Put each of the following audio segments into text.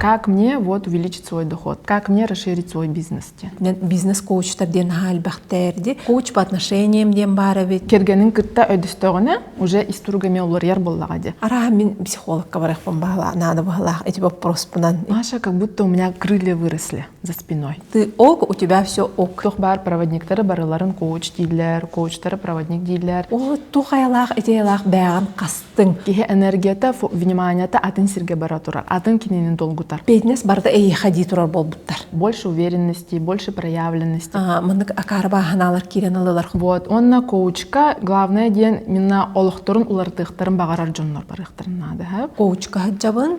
как мне вот увеличить свой доход, как мне расширить свой бизнес. Бизнес-коучтар диэн аhaa элбэхтээрди, коуч по отношениям диэн баарабит. Кэргэнин кытта өдөстөҕүнэ уже ис туруга эмиэ уларыйар боллаҕа диэ. Араха мин психологка барыахпын баһылаах, наада баһылаах эти боппуруспунан. Маша, как будто у меня крылья выросли. за спиной. Ты ок, у тебя все ок. Туох баар проводниктары барыларын коуч дииллэр, коучтары проводник дииллэр. Оо, туох айалаах, идеялаах бэйэҕин хастың. Киһи энергията, вниманиета атын сирге бара турар, атын кинини долгутар. Беднес барда эйиха дии турар болбуттар. Больше уверенности, больше проявленности. Ага, мыннык акаарбааһанаалар киирэн алылар. Вот, онна коучка, главное диэн, минна олохторун улартыахтарын баҕарар дьоннор барыахтарын наада. Коучка жабын,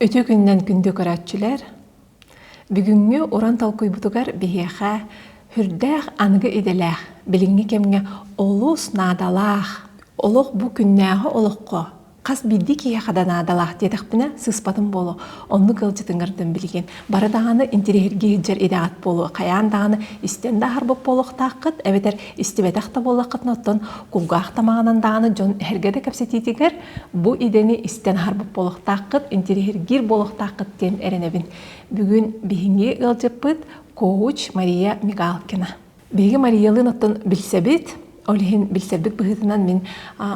Үтүө күнүнэн күндү көрөөччүлэр! Бүгүҥҥү уран толкуйбутугар биһиэхэ үрдээх аныгы идэлээх, билиҥҥи кэмҥэ олус наадалаах, олох бу күннээҕи олоххо хас биирдии киһиэхэ да наадалаах диэтэхпинэ сыыспатым буолуо. Оннук ыалдьытыҥҥардан билигин. Бары даҕаны интириэһиргии сылдьар идэҕит буолуо. Хайаан даҕаны истэн да аһарбыт буолуохтааххыт, эбэтэр истибэтэх да буоллаххытына оттон кулгаах тамаҕынан даҕаны дьон эһэргэ да кэпсэтиитигэр бу идэни истэн аһарбыт буолуохтааххыт интириэһиргиир буолуохтааххыт диэн эрэнэбин бүгүн биһиги ыалдьыппыт коуч мария мигалкина биһиги мариялыын оттон билсэбит ол иһин билсэрбит быһыытынан мин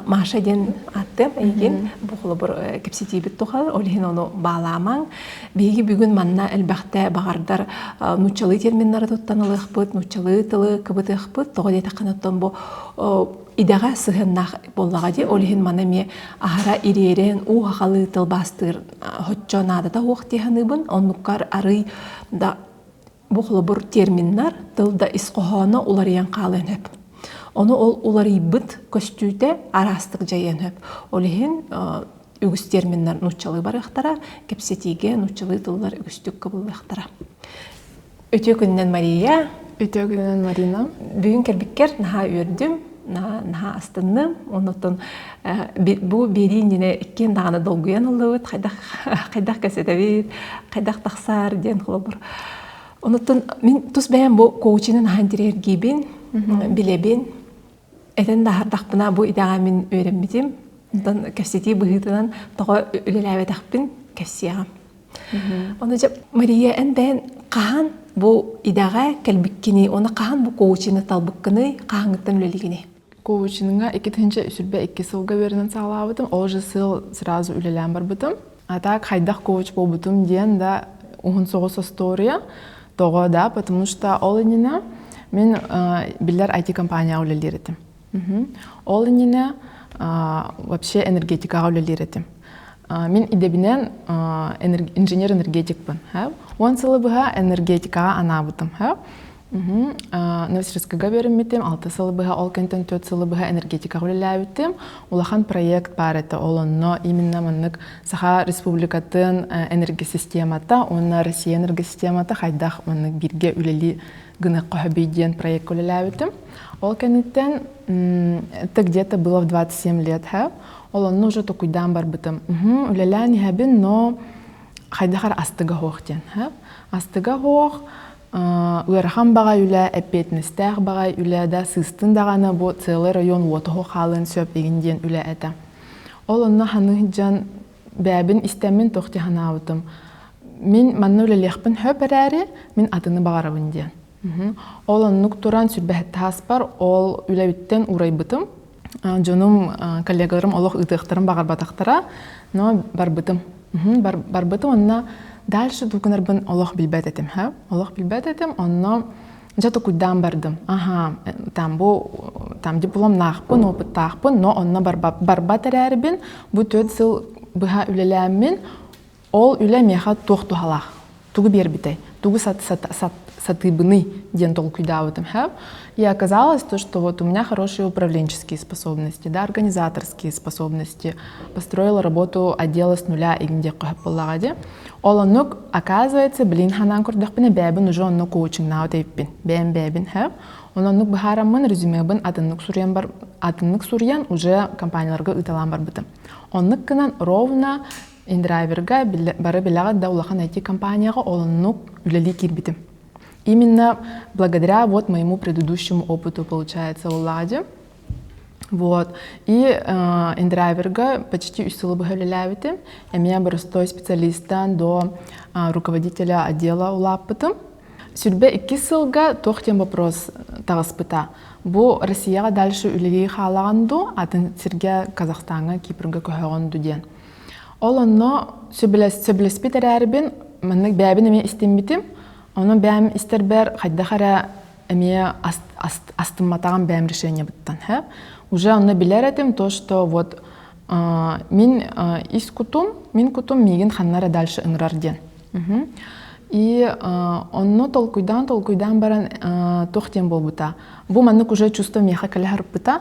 маша диэн ааттыам эйигин бу холобур кэпсэтиибит тухары ол иһин ону баалаамаҥ Биһиги бүгүн манна элбэхтэ баҕардар нууччалыы терминнары туттан ылыахпыт, нууччалыы тылы кыбытыахпыт, тоҕо диэтэххинэ оттон бу идэҕэ сыһыаннаах буоллаҕа дии, ол иһин маны эмиэ аһара ириэрэн уу хахалыы тылбаастыыр оччо наадата суох дии саныыбын, оннуккар арыый да Бу холобур терминнар тылда ис хоһооно уларыйан хаалыан сөп. Ону ол уларыйбыт көстүүтэ араастык дьайыан сөп. Ол иһин үгүс терминнэр нууччалыы барыахтара, кэпсэтиигэ нууччалыы тыллар үгүстүк кыбыллыахтара. Үтүө күнүнэн Мария. Үтүө күнүнэн Марина. Бүгүн кэлбиккэр наһаа үөрдүм. наһаа астынным оннуттан бу биэриинньэни иккиэн даҕаны долгуйан ыллыбыт хайдах хайдах кэсэтэбит хайдах тахсаар диэн холобур онуттан мин тус бэйэм бу коучинын аһан тириэргиибин билэбин этэн да аһардахпына бу идэҕэ мин үөрэммитим онтон кэпсэтии быһыытынан тоҕо үлэлээбэтэхпин кэпсиэҕим Оны дьэ Мария эн бэйэн хаһан бу идэҕэ кэлбиккиний уонна хаһан бу коучины талбыккыный хаһааҥҥыттан үлэлигиний коучинга икки тыһыынча сүүрбэ икки сылга үөрэнэн саҕалаабытым ол же сыл сразу үлэлээн барбытым а так хайдах коуч буолбутум диэн да уһун соҕус остуоруйа тоҕо да потому что ол иннинэ мин биллэр IT компанияҕа үлэлиир этим Ол иннинэ вообще энергетикаҕа үлэлиир этим. Мин идэбинэн инженер-энергетикпын. Уон сылы быһа энергетикаҕа анаабытым. Новосибирскыга үөрэммитим. Алта сылы быһа, ол кэнниттэн төрт сылы быһа энергетикаҕа үлэлээбитим. Улахан проект баар этэ. Ол онно именно маннык Саха Республикатын энергосистемата уонна Россия энергосистемата хайдах маннык бииргэ үлэлии гыныахха хөбүй диэн проекка үлэлээбитим. Ол кэнниттэн ты где-то было в 27 лет, һэ? Ол онно уже токуйдаан барбытым. Үлэлээн иһэбин, но хайдахар астыга хоох диэн, һэ? Астыга хоох ыарахан баҕа үлэ, эппиэтинэстээх баҕа үлэ да сыыстын даҕаны бу целый район уотоһо хаалыан сөп игин диэн үлэ этэ. Ол онно ханы дьан бэйэбин истэммин туох дии санаабытым мин манна үлэлиэхпин сөп эрээри мин атыны баҕарабын диэн ол оннук туран сүрбэһэтэ ааспар ол үлэбиттэн урайбытым дьонум коллегаларым олох ыытыахтарын баҕарбатахтара но барбытым барбытым онно дальше дукунарбын олох билбэт этим олох билбэт этим онно Дьэ тукуйдаан бардым. Аһаа, там бу там дипломнаахпын, опыттаахпын, но онно барбат, барбат эрээрбин бу төрт сыл быһа үлэлээммин ол үлэ миэхэ туох туһалаах тугу биэрбитэй тугу сат, сат, сат, сатыыбыный диэн толкуйдаабытым хэп и оказалось то что вот у меня хорошие управленческие способности да организаторские способности построила работу отдела с нуля и где қойып Ол оннук, оказывается, блин ханаан көрдөхпүнэ бэйэбин уже онно коучингнаабыт эйиппин. Бэйэм бэйэбин хөп. Ононнук быһаараммын резюмебын атыннык суруйан бар атыннык суруйан уже компанияларга ыыталаан барбытым. Оннук гынан ровно индрайверга бары билэҕит да улахан IT-компанияҕа олуннук үлэлии киирбитим. Именно благодаря вот моему предыдущему опыту, получается, Владе, Вот. И э, индрайверга почти үс сылы быһа үлэлээбитим. Эмиэ боростой специалистан до э, руководителя отдела улааппытым. Сүрбэ иккис сылга туох тем вопрос тагыспыта. Бу Россияга дальше үлеги хаалаганду, атын сирге Казахстанга, Кипрга көһөгөнду диэн. Ол онно сөбүлеспит эрээрбин, маннык бәбин эме истиммитим. Оны бәм истербер хайдах эрэ эмиэ астымматаҕым бэйэм решениебыттан һэ уже ону билэр этим то что вот мин ис кутум мин кутум миигин ханна эрэ дальше ыҥырар диэн и онно толкуйдаан толкуйдаан баран туох диэн буолбута бу маннык уже чувство миэхэ кэлэ сарпыта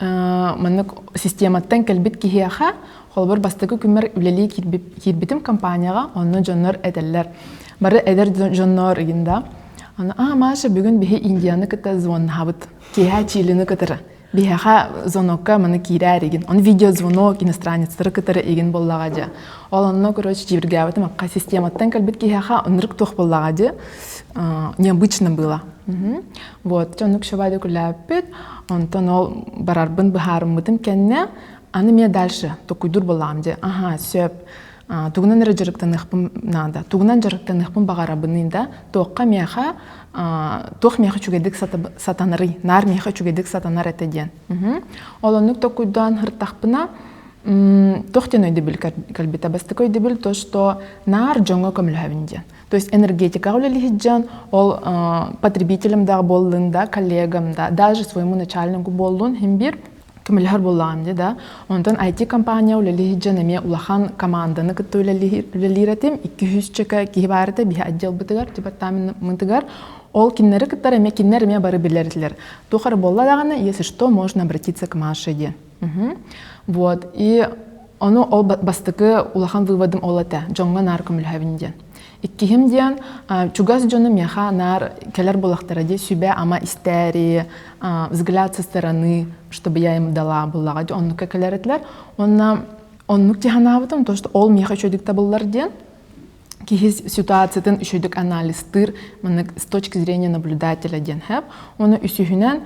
маннык систематтан кэлбит киһиэхэ холобур бастакы күммэр үлэлии киирбитим компанияҕа онно дьоннор этэллэр бары эдэр дьоннор ыйын да аны а маша бүгүн биһи индияны кытта звоннаһабыт киэһэ чилини кытары биһиэхэ звонокка маны киирээр игин он видеозвонок иностранецтары кытары игин боллаға же ол онно короче жибиргээбитим акка систематтан кэлбит киһиэхэ ынырык туох боллаға же необычно было Вот оннук шабады күлээппит, онтон ол барарбын быһаарыммытым кэннэ, аны мне дальше токуйдур булаам де аха сөп тугунан эрэ дьарыктаныахпын наада тугунан дьарыктаныахпын баҕарабыный да туохха миэхэ туох миэхэ үчүгэйдик сатанарый наар миэхэ үчүгэйдик сатанар этэ диэн ол оннук токуйдаан хыртахпына туох диэн өйдөбүл кэлбитэ бастакы өйдөбүл то что наар дьоҥҥо көмөлөһөбүн диэн То есть энергетикаҕа үлэлиһит дьон, ол потребителем да буоллун да, коллегам да, даже своему начальнику буоллун химбир көмөлөһөр буоллаҕым дии да онтон IT компания үлэлиһит дьон эмиэ улахан команданы кытта үлэлиир этим икки үһүс чөкө киһи баарыта биһи отделбытыгар департаментытыгар ол кинилэри кытта эмиэ кинилэр эмиэ бары билэрилэр туох эрэ буолла даҕаны если что можно обратиться к Маше диэн Вот. И ону ол бастакы улахан выводым ол этэ. Дьоҥҥо наар көмөлөһөбүн диэн. Иккиһим диэн чугас дьону миэхэ наар кэлэр буолахтара дии сүбэ-ама истээри, взгляд со стороны, чтобы я ему дала буллаҕа дии оннукка кэлэр этилэр. Уонна оннук дии санаабытым, то что ол миэхэ үчүгдүк табыллар диэн. киһи ситуациятын үчүгэйдик анализтыыр маннык с точки зрения наблюдателя диэн хэп оны үсүһүнэн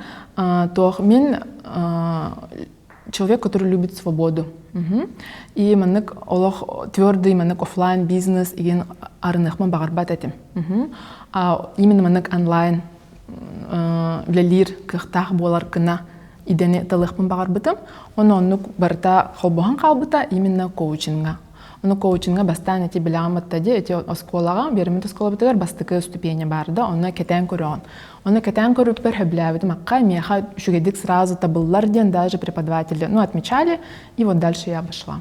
тоох мин человек который любит свободу и маннык олох твердый маннык офлайн бизнес иген арыныхма бағарбат этим именно маннык онлайн үлэлиир кыахтаах буолар кына идени талыхпын бағарбытым оны оннук барыта холбоһон хаалбыта именно коучинга Ону коучинга бастаан ити билэҕим ытта дии, ити оскуолаҕа, Биэримит оскуолабытыгар бастакы уступиэнньэ баар да, онно кэтээн көрөҕүн. Ону кэтээн көрүүбүтүгэр сөбүлээбитим, акка миэхэ үчүгэйдик сразу табыллар диэн даже преподаватели ну, отмечали, и вот дальше я вошла.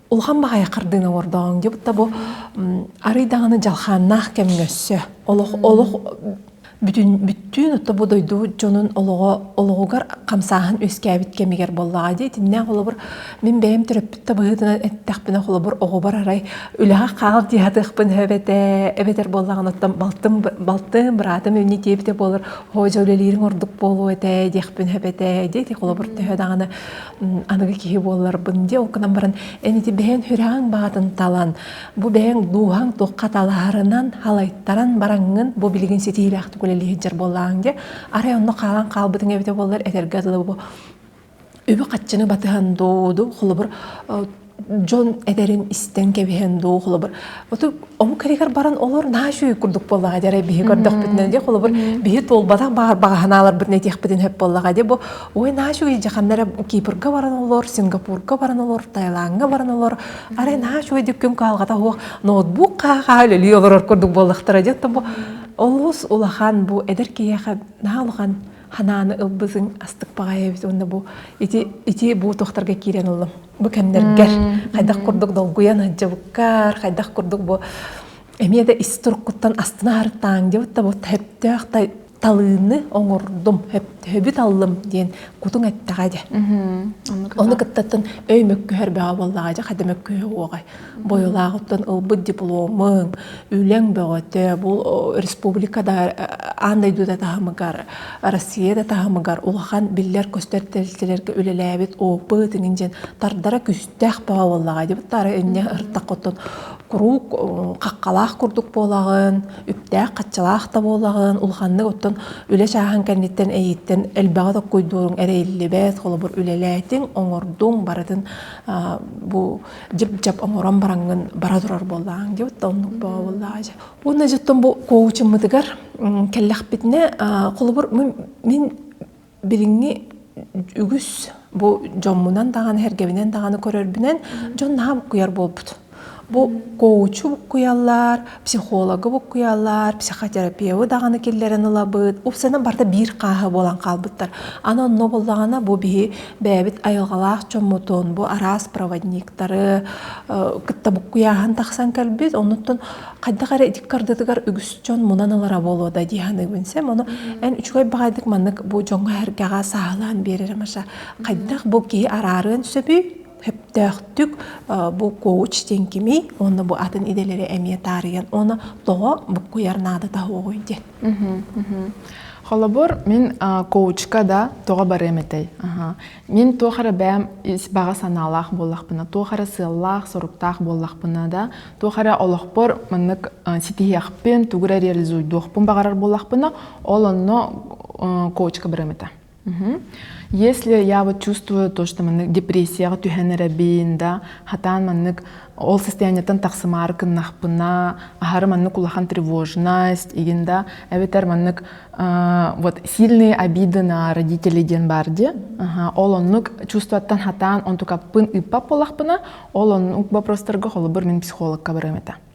улахан баҕайы хардыына оҥордоҕуҥ дии бу арый даҕаны дьалхааннаах кэм өссө олох олох бүтүн бүттүүн отто бу дойду дьонун олоҕо олоҕугар хамсааһын үөскээбит кэмигэр буоллаҕа дии итиннээх холобур мин бэйэм төрөппүт табыһытынан эттэхпинэ холобур оҕобор арай үлэҕэ хаал дии сатыахпын эбэтэ эбэтэр буоллаҕын оттон балтым балтым быраатым өвнө диэбитэ буолар һоо дьэ үлэлиириҥ ордук буолуо этэ диэхпин эбэтэ дии холобур төһө даҕаны аныгы киһи буолларбын дии ол гынан баран эн ити бэйэҥ сүрэҕиҥ баҕатын талан бу бэйэҥ дууһаҥ туохха талаһарынан халайтаран бараҥҥын бу билигин ситиилээхтик үлэлиир дьар буоллаҕыҥ дии арай онно хаалан хаалбытыҥ эбитэ буоллар этэргэ дылы бу үбү-харчыны батыһан дууду холобур дьон этэрин истэн кэбиһэн дуу холобур оту омук кэригэр баран олор наачүй курдук буоллаҕа дьэ биһи көрдөхпүтүнэ дьэ холобур биһи туолбатах баар баҕаһынааларбытын этиэхпитин сөп буоллаҕа дьэ бу ой наачүй дьаханнар кипрга баран олор сингапурга баран олор таиланга баран олор арай наачүй дьүккүм каалгата суох ноутбук каа үлэлии олорор курдук буоллахтара дьэ тобу олус улахан бу эдэр киһиэхэ наһаа улахан ханааны ылбызыҥ астык баҕайы эбит уонна бу ити ити бу тохтарга киирэн оллом бу кэмнэргэр хайдах курдук долгуйан сылдьыбыккар хайдах курдук бу эмиэ да ис туруккуттан астынаарытааҥ диэбит да бу төптөөх талыыны оҥордум төбүт аллым диэн кутуҥ эттэҕэ дьэ ону кыттаттын өй мөккүһэр бөҕө буоллаҕа дьэ хайда мөккүһүө уоҕай Бойылааҕыттан ылбыт дипломуҥ, үлэҥ бөҕөтө, бу республика да аан дойдута таһымыгар, Россия да таһымыгар улахан биллэр-көстөр тэрилтэлэргэ үлэлээбит опыт иҥин диэн тардара күстээх баҕа буоллаҕа диэбит тары инньэ ыртаххыттан куруук хаххалаах курдук буолаҕын, үптээх-хаччалаах да буолаҕын, улаханнык оттон үлэ чааһын кэнниттэн эйиттэн элбэҕи токкойдуоруҥ эрэ ириллибэт, холобур үлэлээтиҥ, оҥордуҥ, барытын бу дьип-дьап оҥорон бараҥҥын бара турар буоллаҕыҥ диэбит да оннук бообуллаҕа дьэ уонна дьиттэн бу коучуммутугар кэллэхпитинэ холобур мин билиҥҥи үгүс бу дьоммунан даҕаны эргэбинэн даҕаны көрөрбүнэн дьон наһаа куйар буолбут бу коучу куйаллар психологу буккуйаллар, психотерапевы даҕаны киллэрэн ылабыт. Упсанан барыта биир хааһы буолан хаалбыттар. Аны онно буоллаҕына бу биһи бэйэбит айылҕалаах дьоммутун, бу араас проводниктары кытта буккуйааһын тахсан кэлбит. Оннуттан хайдах эрэ ити кардытыгар үгүс дьон мунан ылара буолуо да дии саныыбын сем. Ону эн үчүгэй баҕайытык маннык бу дьоҥҥо-сэргэҕэ сааһылаан биэрэрэ Маша. Хайдах бу киһи араарыан сөбүй? сөптөөхтүк бу коуч диэн кимий уонна бу атын идэлэри эмиэ таарыйан уонна тоҕо буккуйар наадата угуй диэн холобур мин коучка да тоҕо барыам этэй мин туох эрэ бэйэм ис баҕа санаалаах буоллахпына туох эрэ сыаллаах соруктаах буоллахпына да туох эрэ олохпор маннык ситиһиэхпин тугу эрэ реализуйдуохпун баҕарар буоллахпына ол онно коучка барыам этэ Если я вот чувствую то, что маннык депрессияҕа түһэн эрэбин, да, хатаан маннык ол состояниеттан тахсымаары кыннахпына, аһары маннык улахан тревожность, игин да, эбэтэр маннык вот сильные обиды на родителей диэн баар дии. Ол оннук чувствуаттан хатаан онтукаппын ыппат буолахпына, ол оннук вопростарга холобур мин психологка барыам этэ.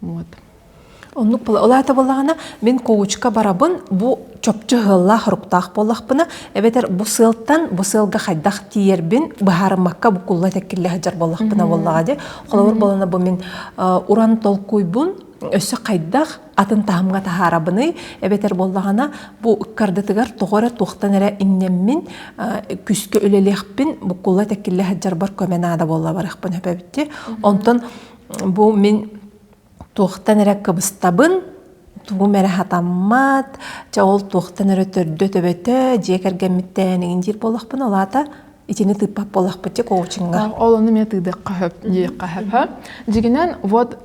Вот. Оннук олаатабыллаҕына, мин коучка барабын, бу чопчу сыаллаах хоруктаах буоллахпына, эбэтэр бу сыалтан, бу сыалга хайдах тиийэрбин быһаарыммакка букулла теккиллэ сыдьар боллахпына боллаҕа де холобур болана бу мин уран толкуйбун өссө хайдах атын таһымга таһаарабыный эбэтэр боллаҕана бу ыккардытыгар тоҕо эрэ туохтан эрэ иннэммин күскэ үлэлиэхпин букулла теккиллэ сыдьарбар көмө наада буолла барыахпын сөпөбүттэ онтон бу мин туохтан эрэ кыбыстабын тугум эрэ хатаммат чэ ол туохтан эрэ төрдө төбөтө дьиэ кэргэммиттээн иҥин диир буоллахпын ол аата итини тыыппат буоллахпыт дьэ коучинга ол ону эмиэ тыыдыахха сөп диэххэ сөп дьигинэн вот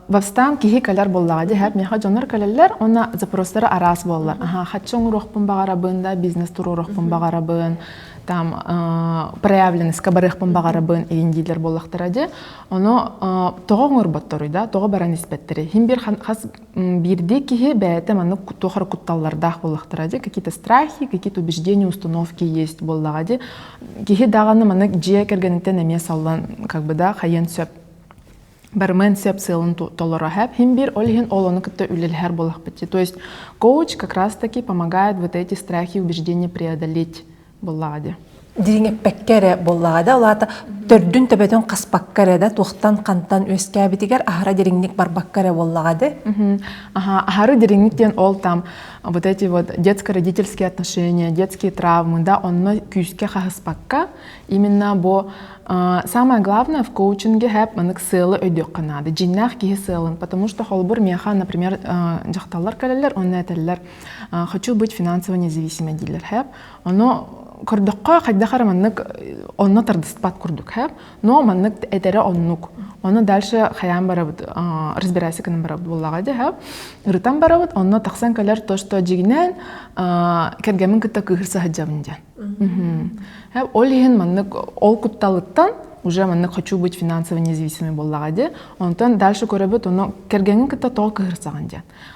восстан киһи кэлэр буоллаҕа дии миэхэ дьоннор кэлэллэр уонна запростары араас буоллар аха хаччы оҥоруохпун баҕарабын да бизнес туруоруохпун баҕарабын там проявленностька барыахпын баҕарабын иин диилэр буоллахтара дии Ону тоҕо оҥорботторуй да, тоҕо баран испэттэрий? Хин бир хас биирдии киһи бэйэтэ маннык туох эрэ кутталлардаах буоллахтара дии, какие-то страхи, какие-то убеждения, установки есть буоллаҕа дии. Киһи даҕаны маннык дьиэ кэргэниттэн эмиэ саллан как бы да хайыан сөп барымыан сөп сыалын толоро хэп. Хин бир ол иһин олону кытта үлэлэһэр буоллахпыт. То есть коуч как раз таки помогает вот эти страхи и убеждения преодолеть Буллаҕа дии. Дириҥэппэккэ эрэ буоллаҕа да алаата төрдүн төбөтүн хаспакка эрэ да туохтан хантан үөскээбитигэр аһара дириҥник барбакка эрэ буоллаҕа дии. аһары дириҥник диэн ол там вот эти вот детско-родительские отношения, детские травмы, да, онно күүскэ хаһыспакка именно бу самое главное в коучинге хэп манык сыалы өйдүөххэ наада дьиннээх киһи сыалын потому что холбур миэхэ например дьахталлар кэлэллэр онно этэллэр хочу быть финансово независимой дииллэр хэп Ону көрдөххө хайдах эрэ маннык онно тардыспат курдук һэ но маннык этэрэ оннук ону дальше хайаан барабыт разбирайся гынан барабыт буоллаҕа дии һэ ырытан барабыт онно тахсан кэлэр то что дьигинэн кэргэмин кытта кыыһыр саһыдьабын диэн һэ ол иһин маннык ол кутталыттан уже маннык хочу быть финансово независимый буоллаҕа дии онтон дальше көрөбүт ону кэргэҥҥин кытта тоҕо кыһырсаҕын диэн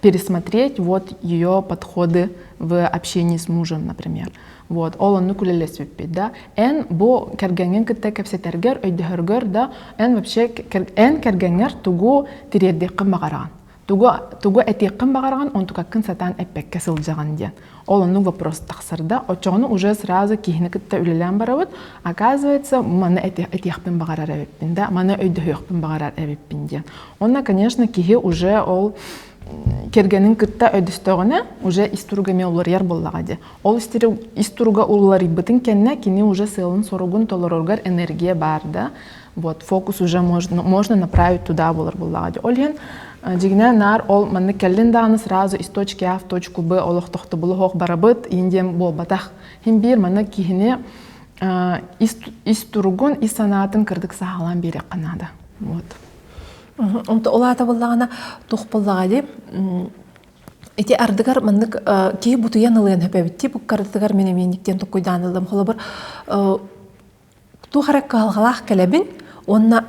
пересмотреть вот ее подходы в общении с мужем, например. Вот, ол оннук үлэлэспиппит да. Эн бу кэргэҥҥин кытта кэпсэтэргэр, өйдөһөргөр да эн вообще эн кэргэҥҥэр тугу тириэрдиэххин баҕараҕын? Тугу тугу этиэххин баҕараҕын онтукаккын сатаан эппэккэ сылдьаҕын диэн. Ол оннук вопрос тахсарда. Оччоҕуна уже сразу киһини кытта үлэлээн барабыт. Оказывается, маны этиэхпин баҕарар эбиппин да, маны өйдөһүөхпүн баҕарар эбиппин диэн. Онно, конечно, киһи уже ол кэргэнин кытта өйдөстөҕүнэ уже ис туруга эмиэ уларыйар буоллаҕа дии. Ол ис туруга уларыйбытын кэннэ кини уже сыалын-соругун толороругар энергия баар да. вот фокус уже можно, можно направить туда булар буллаҕа ди. Ол иһин дигине наар ол манны келлин дааны сразу из точки А в точку Б олохтохтобулуһох барабыт индием буолбатах. Хин биир маны киһини ис туругун, ис санаатын кырдык саалан биэрэххэ наада. Вот. Онто улаата буллаҕана тух буллаҕа ди. Ити ардыгар маннык киһи бутуйан ылыйан хэпэбитти буккардыгар мен эмиэниктен туккуйдаан ылым холобур туох эрэ кыһалҕалаах кэлэбин уонна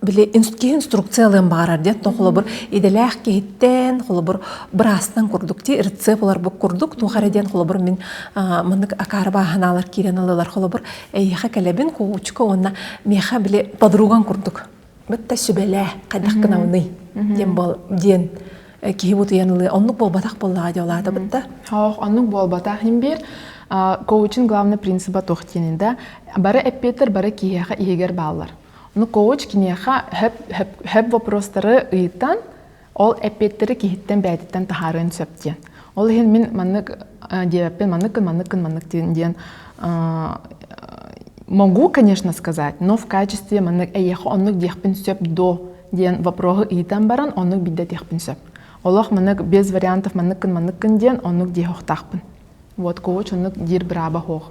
били киһи инструкция ылыан баҕарар диэн то холобур идэлээх киһиттэн холобур быраастан курдук дии рецепт ыларбыт курдук туох эрэ диэн холобур мин маннык акаары бааһынаалар киирэн ылылар холобур эйиэхэ кэлэбин куучука уонна миэхэ били подругаҥ курдук бытта сүбэлээ хайдах гынабыный диэн бол диэн киһи бутуйан ылыа оннук буолбатах буоллаҕа диэ улаата бытта хоох оннук буолбатах имбир коучин главный принципа туох диэнин да бары эппиэттэр бары киһиэхэ иһигэр бааллар ну коуч киниэхэ хөп вопрос вопрос вопрос Ол эппиэттэри киһиттэн бэйэтиттэн таһаарыан сөп диэн. Ол иһин мин маннык диэбэппин маннык гын маннык гын маннык диэн диэн могу, конечно, сказать, но в качестве маннык эйиэхэ оннук диэхпин сөп до диэн вопроһу ыйтан баран оннук билдэтиэхпин сөп. Олох маннык без вариантов маннык гын маннык гын диэн оннук диэх охтаахпын. Вот кого чоннук диир бырааба хоох.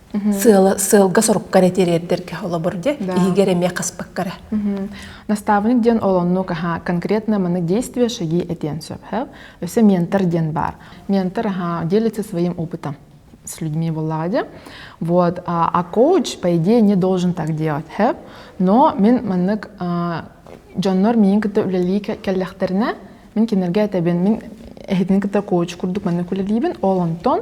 сыала сыалга-сорукка эрэ тириэрдэргэ холобур дьэ иһигэр эмиэ хаспыкка эрэ Настаабынньык диэн олонну каха конкретно маны действия шаги этиэн сөп өсө ментор диэн баар ментор аха делится своим опытом с людьми буллаҕа дьэ вот а коуч по идее не должен так делать но мин маннык дьоннор миин кытта үлэлии кэллэхтэринэ мин кинилэргэ этэбин мин эһитин кытта коуч курдук маннык үлэлиибин ол онтон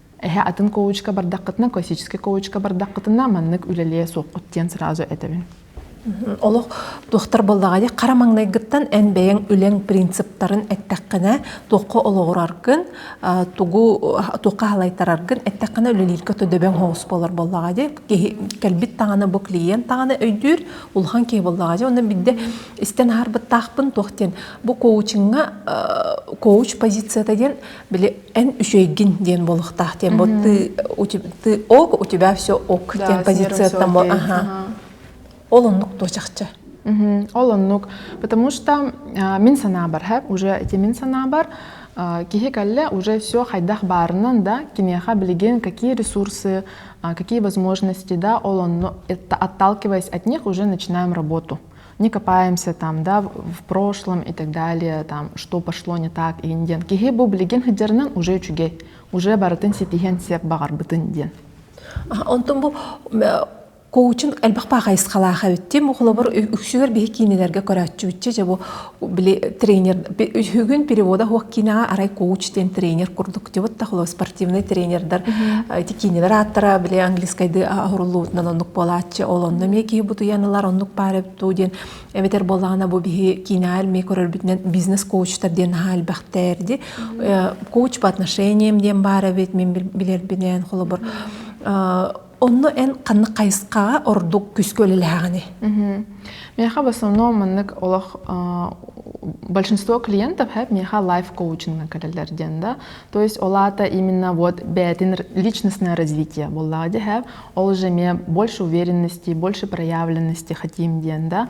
Эһэ атын коучка бардаххытына, классическай коучка бардаххытына, маннык үлэлиэ суоххут диэн сразу этэбин. Олох туохтар буоллаҕа дии хара маҥнайгыттан эн бэйэҥ үлэҥ принциптарын эттэххинэ туохха олоҕураргын тугу туохха халайтараргын эттэххинэ үлэлииргэ төдөбөҥ хоос болор буоллаҕа дии киһи кэлбит даҕаны бу клиент даҕаны өйдүүр улахан киһи буоллаҕа дии онно бидde истэн аһарбыттаахпын туох диэн бу коучинга коуч позицията диэн били эн үчүгэйгин диэн буолуохтаах диэн бу ты ок у тебя все ок диэн позицияттан бу ол оннук туо чахчы ол оннук потому что мин санаабар хэп уже эти мин санаабар киһи кэллэ уже все хайдах баарынан да киниэхэ билигин какие ресурсы какие возможности да ол онну это отталкиваясь от них уже начинаем работу не копаемся там, да, в прошлом и так далее, там, что пошло не так, ин диэн. Киһи бу билигин сыдьарынан уже үчүгэй, уже барытын ситиһэн сеп бағарбытын диэн. Онтон бу коучинг элбэх паахайысхалаах эбиттим. Холобур, үксүгэр биһи киинилэргэ көрөөччү бу били тренер Үһүгүн перевода хуох киинэҕэ арай коуч диэн тренер курдук дебут тахло спортивный тренердар эти киинелер ааттара биле английскайды аһуруллубутунан оннук буолааччы ол онно мекии бутуян ылар оннук пааребту диэн эбэтер боллаҕана бу биһи киинэҕэр ме көрөрбүтүнэн бизнес коучтар диэн аха элбэхтээрди коуч по отношениям диэн баар эбит мин билербинен холобур Онно эн ханнык хайысхаҕа ордук күскө үлэлэһэҕиний? Миэхэ в основном маннык олох большинство клиентов һэп миэхэ лайф коучинга кэлэллэр диэн да то есть ол аата именно вот бэйэтин личностное развитие буоллаҕа дии һэп ол уже эмиэ больше уверенности больше проявленности хотим диэн да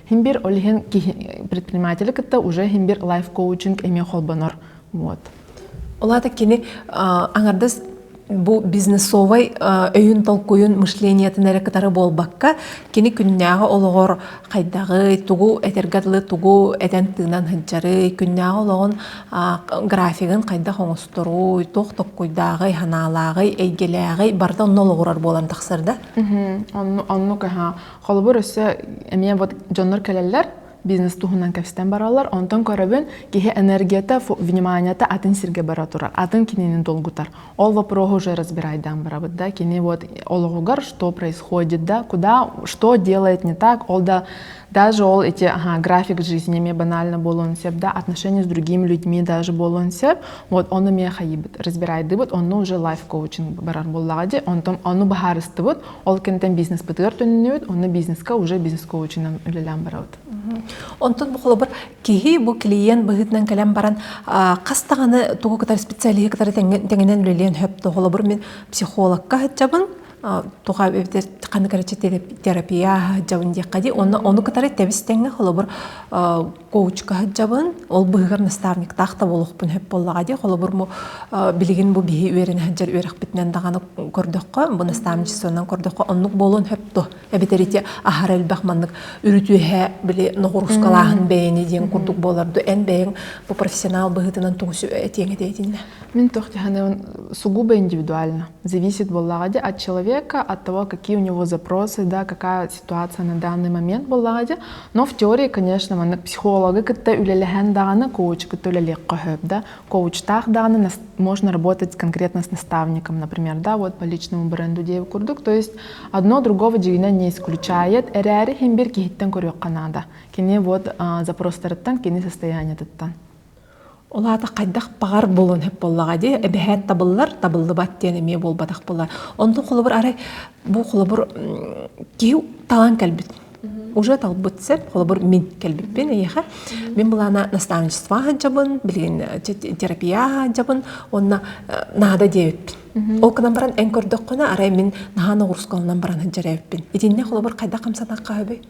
Химбир ол иһин предприниматели кытта уже химбир лайф-коучинг эмиэ холбонор. Вот. Олата кини аңардас бу бизнесовай өйүн толкуйун мышлениетин эрэ кытары буолбакка кини күннээҕи олоҕор хайдаҕый тугу этэргэ дылы тугу этэн тыынан сылдьарый күннээҕи олоҕун графигын хайдах оҥосторуй туох токкуйдааҕый санаалааҕый эйгэлээҕий барыта онно олоҕурар буолан тахсар да оннук Холобур, өссө эмиэ вот дьоннор кэлэллэр, бизнес туһунан кэпстэн бараллар. Онтон көрөбүн, киһи энергията, вниманиета атын сиргэ бара турар, атын кинини долгутар. Ол вопроһу уже разбирайдаан барабыт да. Кини вот ологугар что происходит, да, куда, что делает не так, ол да даже ол эти ага, график жизни ме банально болуон сеп, да, отношения с другими людьми даже болуон сеп, вот оны ме хайыбыт, разбирайдыбыт, онну уже лайф коучинг барар боллаға де, онтон оны бахарыстыбыт, Ол кэнтэн бизнеспытыгар төннүбүт, онно бизнеска уже бизнес-коучынан үлэлээн барабыт. Онтон бу холобур киһи бу клиент быһыытынан кэлэн баран хас даҕаны тугу кытары специалиһы кытары тэҥинэн үлэлиэн сөп то холобур мин психологка сылдьабын туха эбэтэр ханна терапия сылдьабын диэххэ дии онно ону кытары тэбис тэҥҥэ холобур коучка сылдьабын ол быһыгар наставниктаах да буолуохпун сөп буоллаҕа дии холобур бу билигин бу биһи үөрэнэ сылдьар үөрэхпитинэн даҕаны көрдөххө бу наставничествонан көрдөххө оннук буолуон сөп дуо эбэтэр ити аһара элбэх маннык үрүтүөһэ били ноҕуруускалааһын бэйэни диэн курдук буоларду эн бэйэҥ бу профессионал быһыытынан тугуси этиэҥ этэ этиннэ мин тохтиханы сугубо индивидуально зависит буоллаҕа ди от человека от того какие у него запросы да какая ситуация на данный момент буоллаҕа но в теории конечно маннык психологы кытта үлэлэһэн даҕаны коуч кытта үлэлиэххэ сөп да коучтаах даҕаны можно работать конкретно с наставником например да вот по личному бренду диэбит курдук то есть одно другого дьиҥинэн не исключает эрээри хин бир киһиттэн көрүөххэ наада кини вот запростарыттан кини состояниетыттан ол аата хайдах баҕар буолуон сөп буоллаҕа дии эбэһээт табыллар табыллыбат диэн эмиэ буолбатах буолар онтон холобур арай бу холобур киһи талан кэлбит уже талбыт сеп холобур мин кэлбиппин эйиэхэ мин былаана наставничество аһаджабын билигин терапия аһаджабын уонна наада диэбиппин ол гынан баран эн көрдөххүнэ арай мин наһаа ноҕурускаланан баран сылдьар эбиппин итиннэ холобур хайдах хамсатахха сөбүй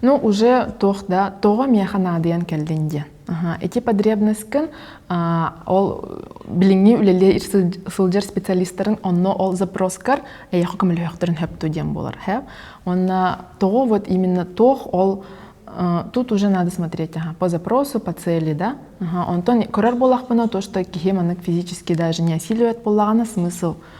Ну уже туох да тоҕо миэхэ наадыйан кэллин диэн ити потребностькын ол билиҥҥи үлэлии сылдьар специалистарын онно ол запроскар эйиэхэ көмөлөһүөхтэрин сөптүү диэн буолар һэп уонна тоҕо вот именно туох ол тут уже надо смотреть ага, по запросу по цели да ага, онтон көрөр буолахпына то что киһи маннык физически даже не осиливает буоллаҕына смысл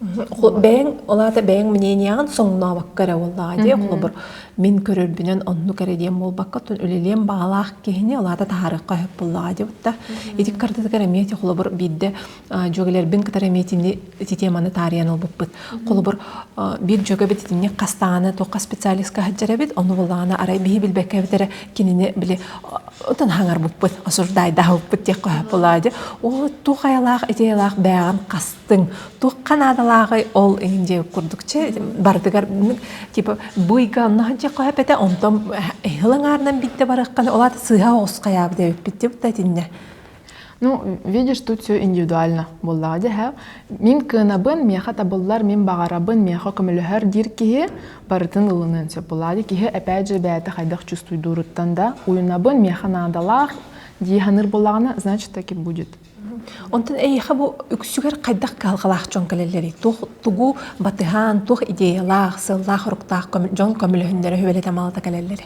бэйэҥ ол аата бэйэҥ мнениеҕын соҥнообокко эрэ буоллаҕа дии холобур мин көрөрбүнэн оннук эрэ диэн буолбакка оттон үлэлиэн баҕалаах киһини ол аата таһаарыахха сөп буоллаҕа дии бутта ити картатыгар эмиэ ити холобур биирдэ дьүөгэлэрбин кытары эмиэ итини теманы таарыйан ылбыппыт холобур биир дьүөгэбит итинник хастааны туох специалистка сылдьар эбит ону буллаҕына арай биһи билбэккэ эбит эрэ кинини били отон хаҥарбыппыт осуждайдаабыппыт диэххэ сөп буоллаҕа дии ол туох айалаах ити айалаах бээҕин хас тыҥ туохха наадалааҕый ол иһин дьэ курдук чэ барытыгар типа быйга онно һанче хоһэпэтэ онтон ыһыл аңаарынан битте барахханы олаат сыыһа оҕусхаяабы дэбиппит типта тинне Ну, видишь, тут все индивидуально буоллаҕа дьэ һэ. Мин кыанабын, миэхэ табыллар, мин баҕарабын, миэхэ көмөлөһөр диир киһи барытын ылыныан сөп буолаады. Киһи эпэт же бэйэтэ хайдах чувствуйдууруттан да уйунабын, миэхэ наадалаах дии саныыр буоллаҕына, значит таким будет. Онтон эйиэхэ бу үксүгэр хайдах кыһалҕалаах дьон кэлэллэрий? Туох тугу батыһаан, туох идеялаах, сыаллаах-соруктаах дьон көмөлөһүннэрэ үөлэтэ малата кэлэллэрэ?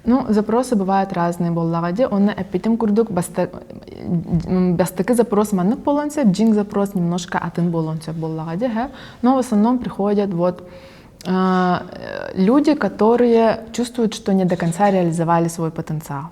Ну, запросы бывают разные буоллаҕа дии. Онно эппитим курдук, бастакы запрос маннык буолуон сөп, дьиҥ запрос немножко атын буолуон сөп буоллаҕа дии, һэ. Но в основном приходят вот люди, которые чувствуют, что не до конца реализовали свой потенциал.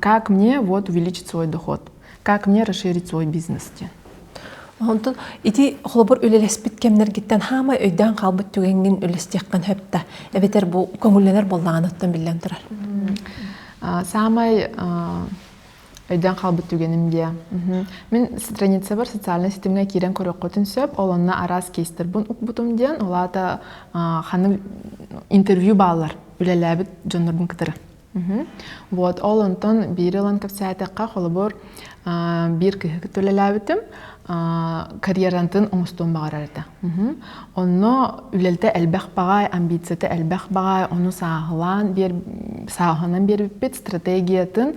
как мне вот увеличить свой доход как мне расширить свой бизнес диэн Онтон ити холобур үлэлэспит кэмнэргиттэн хаама өйдөөн хаалбыт түгэҥҥин үлэстиэххин сөптө эбэтэр бу көҥүллэнэр буоллаҕына оттон биллэн турар саамай өйдөөн хаалбыт түгэним диэ мин страницабар социальнай ситимҥэ киирэн көрүөххүтүн сөп ол онно араас кейстэрбун укпутум диэн ол аата ханнык интервью бааллар үлэлээбит дьоннорбун кытары Вот ол онтон биир ылан кэпсээтэххэ холобур биир киһи кытта үлэлээбитим карьерантын оҥостуон баҕарар этэ онно үлэлитэ элбэх баҕаай амбицията элбэх баҕаай ону сааһылаан биэр сааһынан биэрбиппит стратегиятын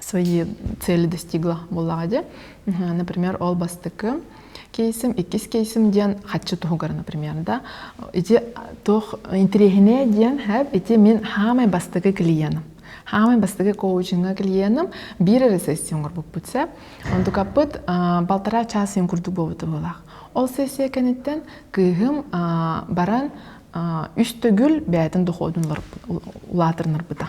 свои цели достигла буоллаҕа дии. Например, ол бастакы кейсим, иккис кейсим диэн хаччы туһугар, например, да ити туох интириэһинэй диэн хэп ити мин хаамай бастакы клиеном хаамай бастакы коучинга клиеном биир эрэ сессия оҥорбуппут сэ онтукаппыт полтора час син курдук буолбута буолаах ол сессия кэнниттэн кыыһым баран үс төгүл бээтин доходун улаатырнарбыта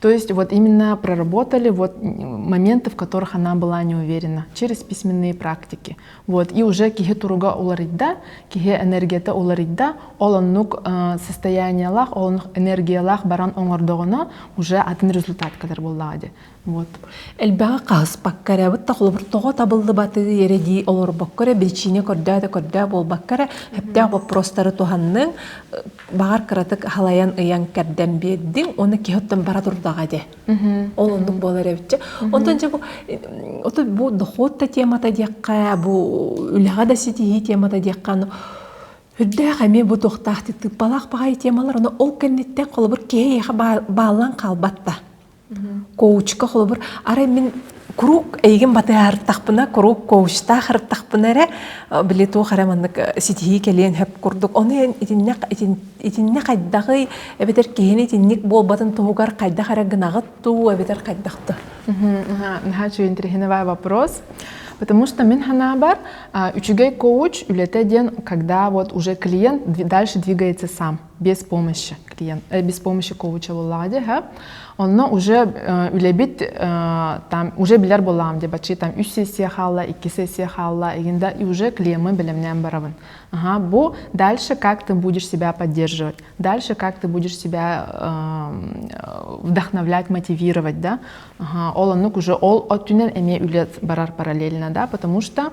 То есть вот именно проработали вот моменты, в которых она была не уверена через письменные практики. Вот, и уже киһи туруга уларыйда, киһи энергията уларыйда, ол оннук состояниялаах, ол оннук энергиялаах баран оңордоҕуна уже атын результат кэлэр буоллаҕа дии. Вот. Элбэҕи хаһыспакка эрэ, бытта холобуртоҕо табыллыбаты эрэдии олорбокко эрэ, биричиинэ көрдөөтө көрдөө буолбакка эрэ, өптөөх боппуруостары туһанның, баҕар кыратык халайан ыйан кэрдэн биэрдиҥ уонна киһи оттон бара турдаҕа ди ол оннук буолар эбитчэ оттон дьэ бу отут бу дохуот да темата диэххэ бу үлэҕэ да ситиһии темата диэххэ үрдээх эмиэ бу туохтаах тыыппалаах баҕайы темалар ону ол кэнниттэн холобур киһи эйиэхэ бааллан хаалбатта коучка холобур арай мин куруук эйигин батыһарыттахпына куруук коучтаах ырыттахпына эрэ били туох эрэ маннык ситиһии кэлиэн сөп курдук ону эн итиннэ итиннэ хайдаҕый эбэтэр киһини итинник буолбатын туһугар хайдах эрэ гынаҕыт дуу эбэтэр хайдах да наһаа үчүгэй интересный вопрос Потому что Минха наоборот, а, учегай коуч үлете диэн, когда вот уже клиент дальше двигается сам. без помощи клиент без помощи коуча буоллаҕа дии һэ онно уже үлэбит там уже билэр буоллаҕым дебачи там үс сессия хаалла икки сессия хаалла игинда и уже клиемы бэлэмнээн барабын ага бу дальше как ты будешь себя поддерживать дальше как ты будешь себя вдохновлять мотивировать да ага ол оннук уже ол өттүнэн эмиэ үлэ барар параллельно да потому что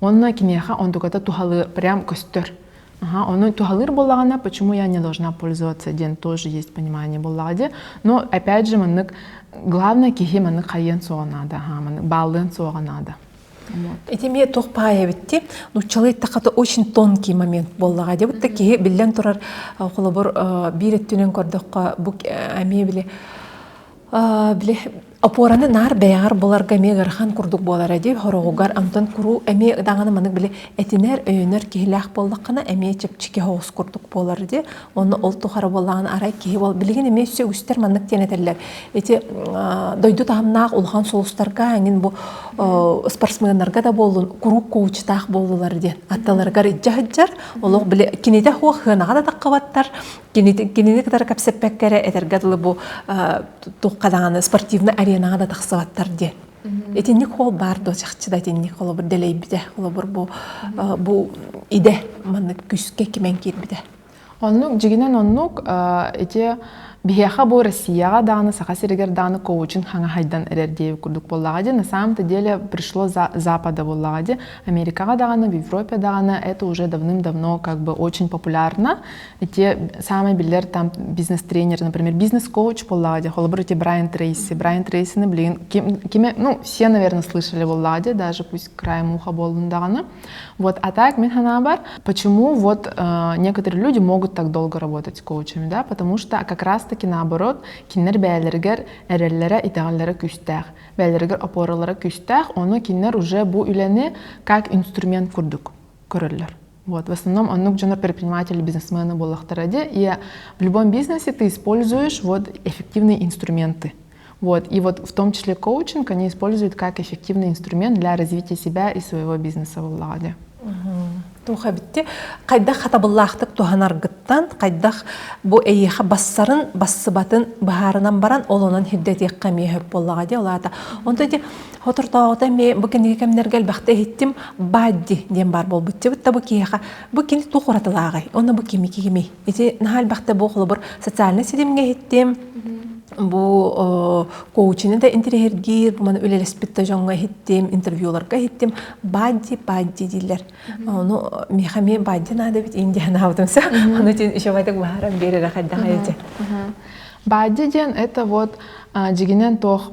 Он киниэхэ онтуката туһалыыр прям көстөр. Ага, ону туһалыыр буоллаҕына, почему я не должна пользоваться диэн тоже есть понимание буоллаҕа дии. Но опять же маннык главное киһи маннык хайыан суоҕа наада, аха, маннык бааллыан суоҕа наада. Ити эмиэ туох паайа эбитти нуччалый тахата очень тонкий момент боллаға деп та киһи биллэн турар холобур биир өттүнэн көрдөххө бу эмиэ били били Опораны наар бэйэҕэр буларга эмиэ ыарахан курдук буолара дии. Хороҕугар амтан куруу эмиэ даҕаны маннык били этинэр, өйөнөр киһилээх буоллаххына эмиэ чэпчэки хоос курдук буолар дии. Онно ол тухары буоллаҕына арай киһи бол билигин эмиэ өссө үгүстэр маннык диэн этэллэр. Ити дойду таһымнаах улахан сулустарга эҥин бу спортсменнарга да буоллун куруук куучутаах буоллулар диэн атталарыгар илдьэ сылдьар. Олох били кинитэ хуох сыанаҕа да таххабаттар кинини кытары кэпсэппэккэ эрэ этэргэ дылы бу тухха даҕаны спортивный аренаҕа да тахсыбаттар диэн итинник ол баар дуо чахчы да итинник холобур дэлэйбитэ холобур бу бу идэ маннык күскэ кимэн киирбитэ оннук дьигинэн оннук ити биһиэхэ бу Россияҕа даҕаны Саха сиригэр даҕаны коучинг хаҥаһайдан эрэр диэбит курдук буоллаҕа дии на самом-то деле пришло Запада буоллаҕа дии Америкаҕа даҕаны в Европе даҕаны это уже давным-давно как бы очень популярно Ити саамай биллэр там бизнес-тренер, например, бизнес-коуч буоллаҕа дии, холобур, эти Брайан Трейси. Брайан Трейсины билигин ким, кими, ну, все, наверное, слышали буоллаҕа дии, даже пусть краем уха буоллун даҕаны. Вот, а так, мин наоборот, почему вот э, некоторые люди могут так долго работать с коучами, да, потому что как раз-таки наоборот, кинилэр бэйэлэригэр эрэллэрэ, итэҕэллэрэ күүстээх, бэйэлэригэр опоралара күүстээх, ону кинилэр уже бу үлэни как инструмент курдук көрөллөр. Вот. В основном оннук дьоно предприниматели, бизнесмены буоллахтара дии. И в любом бизнесе ты используешь вот эффективные инструменты. Вот. И вот в том числе коучинг они используют как эффективный инструмент для развития себя и своего бизнеса боллагаде. Туха битти хайдах хатабыллаахтык туһанаргыттан хайдах бу эйиха бассарын бассыбатын быһаарынан баран олонон хирдэтиэк камиэһөп боллаға де олаата онто Соторутооҕута эмиэ бу кинигэ кэмнэргэ элбэхтэ иһиттим Бадди диэн баар буолбуччубут да бу киһиэхэ бу кини туох уратылааҕый онно бу кими кимий ити наһаа элбэхтэ бу холобур социальнай ситимҥэ иһиттим бу коучины да интириэһиргиир бу маны үлэлэспит да дьоҥҥо иһиттим интервьюларга иһиттим бадди бадди дииллэр ону миэхэ эмиэ бадди наада эбит иин диэн анаабытым сөп ону итин еще байтак баһаран биэрэрэ хайдах эйдэ Бадди диэн это вот дьигинэн туох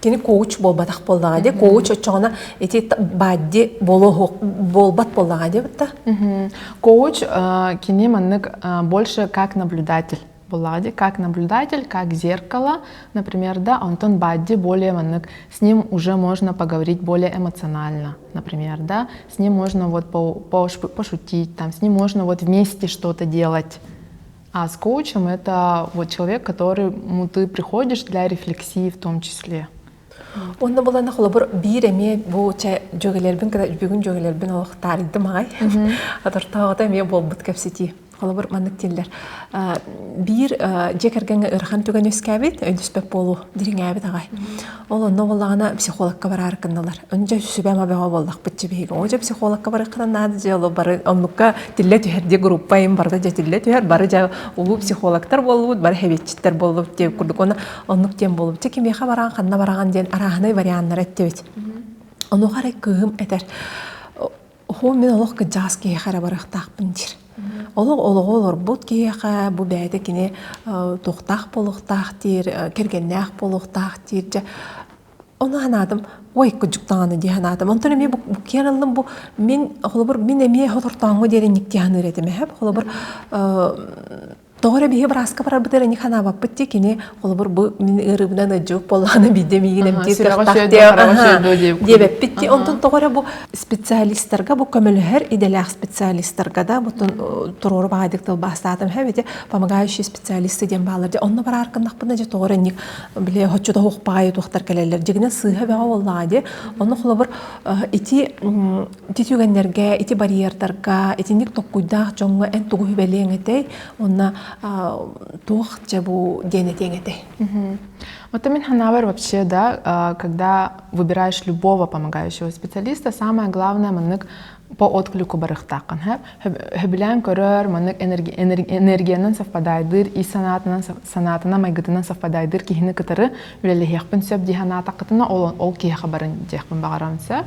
кини коуч буолбатах буоллаҕа дии коуч оччоҕуна ити бадди буолбат буоллаҕа диэбитта коуч кини маннык больше как наблюдатель буллаҕа дии как наблюдатель как зеркало например да онтон бадди более маннык с ним уже можно поговорить более эмоционально например да с ним можно вот пошутить там с ним можно вот вместе что-то делать А с коучем это вот человек, которому ты приходишь для рефлексии в том числе. Онно булана холобур биир эмиэ бу чэ дьөгелербин кыта бүгүн дьөгелербин олохтаарыдым ай. Атыртаҕата эмиэ буолбут кэпситии. Холобур маннык дииллэр. Биир дьиэ кэргэҥҥэ ырахан түгэн үскээбит, өйдөспөт буолуу дириҥээбит аҕай. Ол онно буоллаҕына психологка бараары гынналар. Өнчө сүбэм абеҕа буоллахпытчы биһиги. Оо, дьэ психологка барыаххынан наада дьэ ол бары оннукка тиллэ түһэр диэ группа им барда дьэ тиллэ түһэр бары дьэ улуу психологтар буоллубут бары хевиетчиттэр буоллубут диэн курдук уонна оннук диэн буоллубут. Дьэ кимиэхэ бараан ханна бараҕын диэн арааһынай варианнар эттибит. Онуоха эрэ кыым этэр Оһуоми олох кыдьаҕас киһиэхэ эрэ барыахтаахпын диир. Олох олоҕу олорбут киһиэхэ бу бэйэтэ кини э, туохтаах буолуохтаах диир, э, кэргэннээх буолуохтаах диир. Дьэ ону санаатым, ой кудьук даҕаны дии санаатым. Онтон эмиэ бу киэрэллим бу мин холобур мин эмиэ отортооҥҥо диэри никки саныыр этим эһэп. Холобур э, Тоҕо эрэ биһи бырааска барарбытыгар ини ханаабаппыт дии кини холобур бу мин ыарыыбынан ыдьык болаҕына биирдэ миигин эмтиир диэбэппит дии онтон тоҕо эрэ бу специалистарга бу көмөлөһөр идэлээх специалистарга да бутун туруору баҕайдык тылбаастаатым һэм эти помогающие специалисты диэн баалар дии онно бараар кыннахпына дьэ тоҕо эрэ ник били оччото уохпаҕай туохтар кэлэллэр дьигинэ сыыһа бэҕэ буоллаҕа дии онно холобур ити Ити түгэннэргэ, ити барьердарга итинник токкуйдаах дьоҥҥо эн тугу сүбэлиэҥ этэй? Уонна туох дьэ бу диэн этиэҥ этэй? Вот и мин Ханавер вообще, да, когда выбираешь любого помогающего специалиста, самое главное маннык по отклику барыхтааххын хэп хөбүлээн көрөр маннык энергиянан совпадайдыыр ис санаатынан санаатынан майгытынан совпадайдыыр киһини кытары үлэлэһиэхпин сөп дии санаатаххытына ол ол киһиэхэ барын диэхпин баҕарам сөп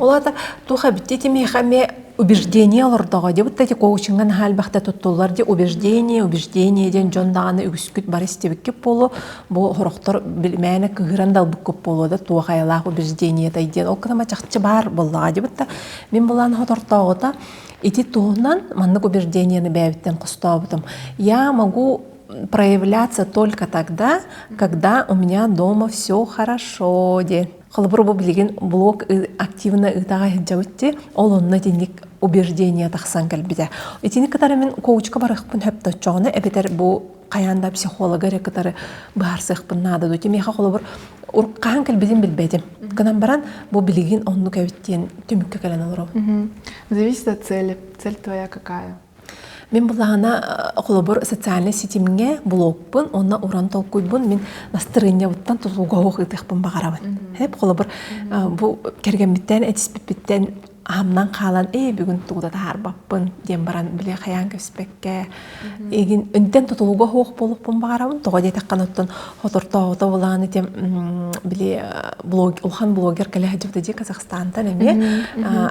Ол аата туох эбитти итимиэхэ эмиэ убеждение олордоҕо дии бытта ити коучиҥҥа наһаа элбэхтэ туттуллар дии убеждение убеждение диэн дьон даҕаны үгүскүт бары истибиккит буолуо бу сорохтор мээнэ кыыһыран далбыккут буолуо да туох айалаах убеждениятай диэн ол кытма чахчы баар буоллаҕа дии бытта мин былаан хотортооҕута ити туһунан маннык убежденияны бэйэбиттэн хостообутум я могу проявляться только тогда когда у меня дома все хорошо диэн Холобур, бу билигин блог активно ыытаҕа иһдьэбит ти, ол онно итинник убеждение тахсан кэлбитэ. Итини кытары мин коучка барахпын хөптөччөҕүнэ эбэтэр бу хайаан да психолога эрэ кытары быһаарсыахпын наада дуу. Тимиэхэ холобур хаһан кэлбитин билбэтим. Гынан баран бу билигин оннук эбит диэн түмүккэ кэлэн олоробун. Зависит от цели. Цель твоя какая? Мин былаһана э, холобур социальнай ситимҥэ блогпун уонна уран толкуйбун мин настырыынньабыттан тутулуга ыытыахпын баҕарабын. Хэп холобур э, бу кэргэммиттэн этиспиппиттэн аһамнан хаалан ээ бүгүн тугу да таһаарбаппын диэн баран били хайаан көспөккө игин үнтэн тутулуга хуох болуппун баҕарабын тоҕо диэтэххин оттон хотортообото булаан этим били блог улахан блогер кэлэ сылдьыбыта дии Казахстантан эмиэ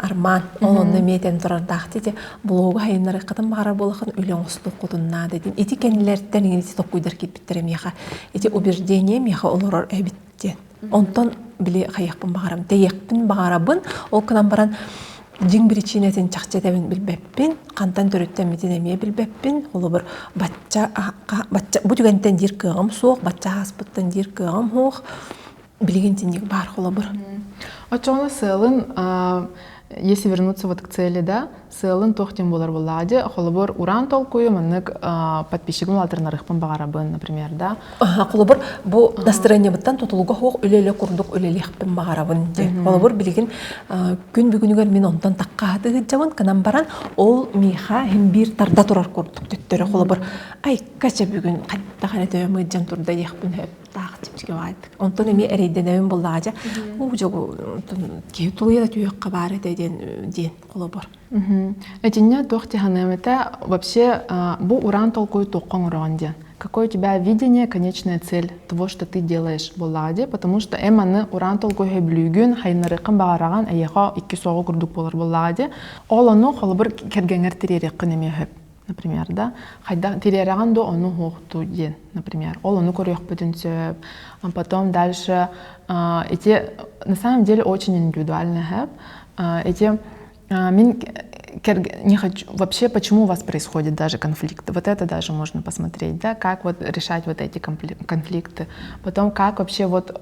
арман ол онно эмиэ этэн турардаах дии блогу хайыннарыаххытын баҕарар буоллаххын үлэ оҥостуоххутун наада диэн ити кэннилэриттэн иҥин ити токуйдар кииппиттэрэ миэхэ ити убеждение миэхэ олорор эбит диэн онтон били хайыахпын баҕарам тэйиэхпин баҕарабын ол гынан баран дьиҥ биричиинэтин чахчы этэбин билбэппин хантан төрүттэммитин эмиэ билбэппин холобур бачча бу түгэнтэн диир кыаҕым суох бачча ааспыттан диир кыаҕым суох билигин тинник баар холобур оччоҕуна сыалын если вернуться вот к цели да сыалын туох диэн буолар буоллаҕа дии холобур ураан толкуйу маннык подписчигым улаатыннарыахпын баҕарабын например да холобур бу настроениебыттан тутулуга суох үлэлэ курдук үлэлиэхпин баҕарабын диэн холобур билигин күн бүгүнүгэр мин онтон таккааты ыһыддьабын гынан баран ол миэхэ иһин биир тарда турар курдук төттөрү холобур айка чэ бүгүн хайдах эрэ төбөм ыддьан турда диэхпин сөп таах типсигэбаайдык онтон эмиэ эрэйдэнэбин буллаажа уу жогу киһи тулуйа да түһүөххэ баар этэ диэн диэн холобур Этинне туох тиханыамыта вообще бу уран толкуй тухка оҥороон диэн какое у тебя видение конечная цель того что ты делаешь боллаҕа дии потому что эм аны уран толкуйга бүлүүгүн хайнарыккын баҕараҕан эйиэхэ икки соҕу курдук буолар боллаҕа дии ол ону холобур кэргэңэр тириэриккин эмиэ Например, да, хайдах тилиэрэҕин да ону уһуохту диэн, например. Ол ону көрүөхпүтүн сөп. Потом дальше эти на самом деле очень индивидуально һэп. Эти мин не хочу вообще почему у вас происходит даже конфликт. Вот это даже можно посмотреть, да, как вот решать вот эти конфликты. Потом как вообще вот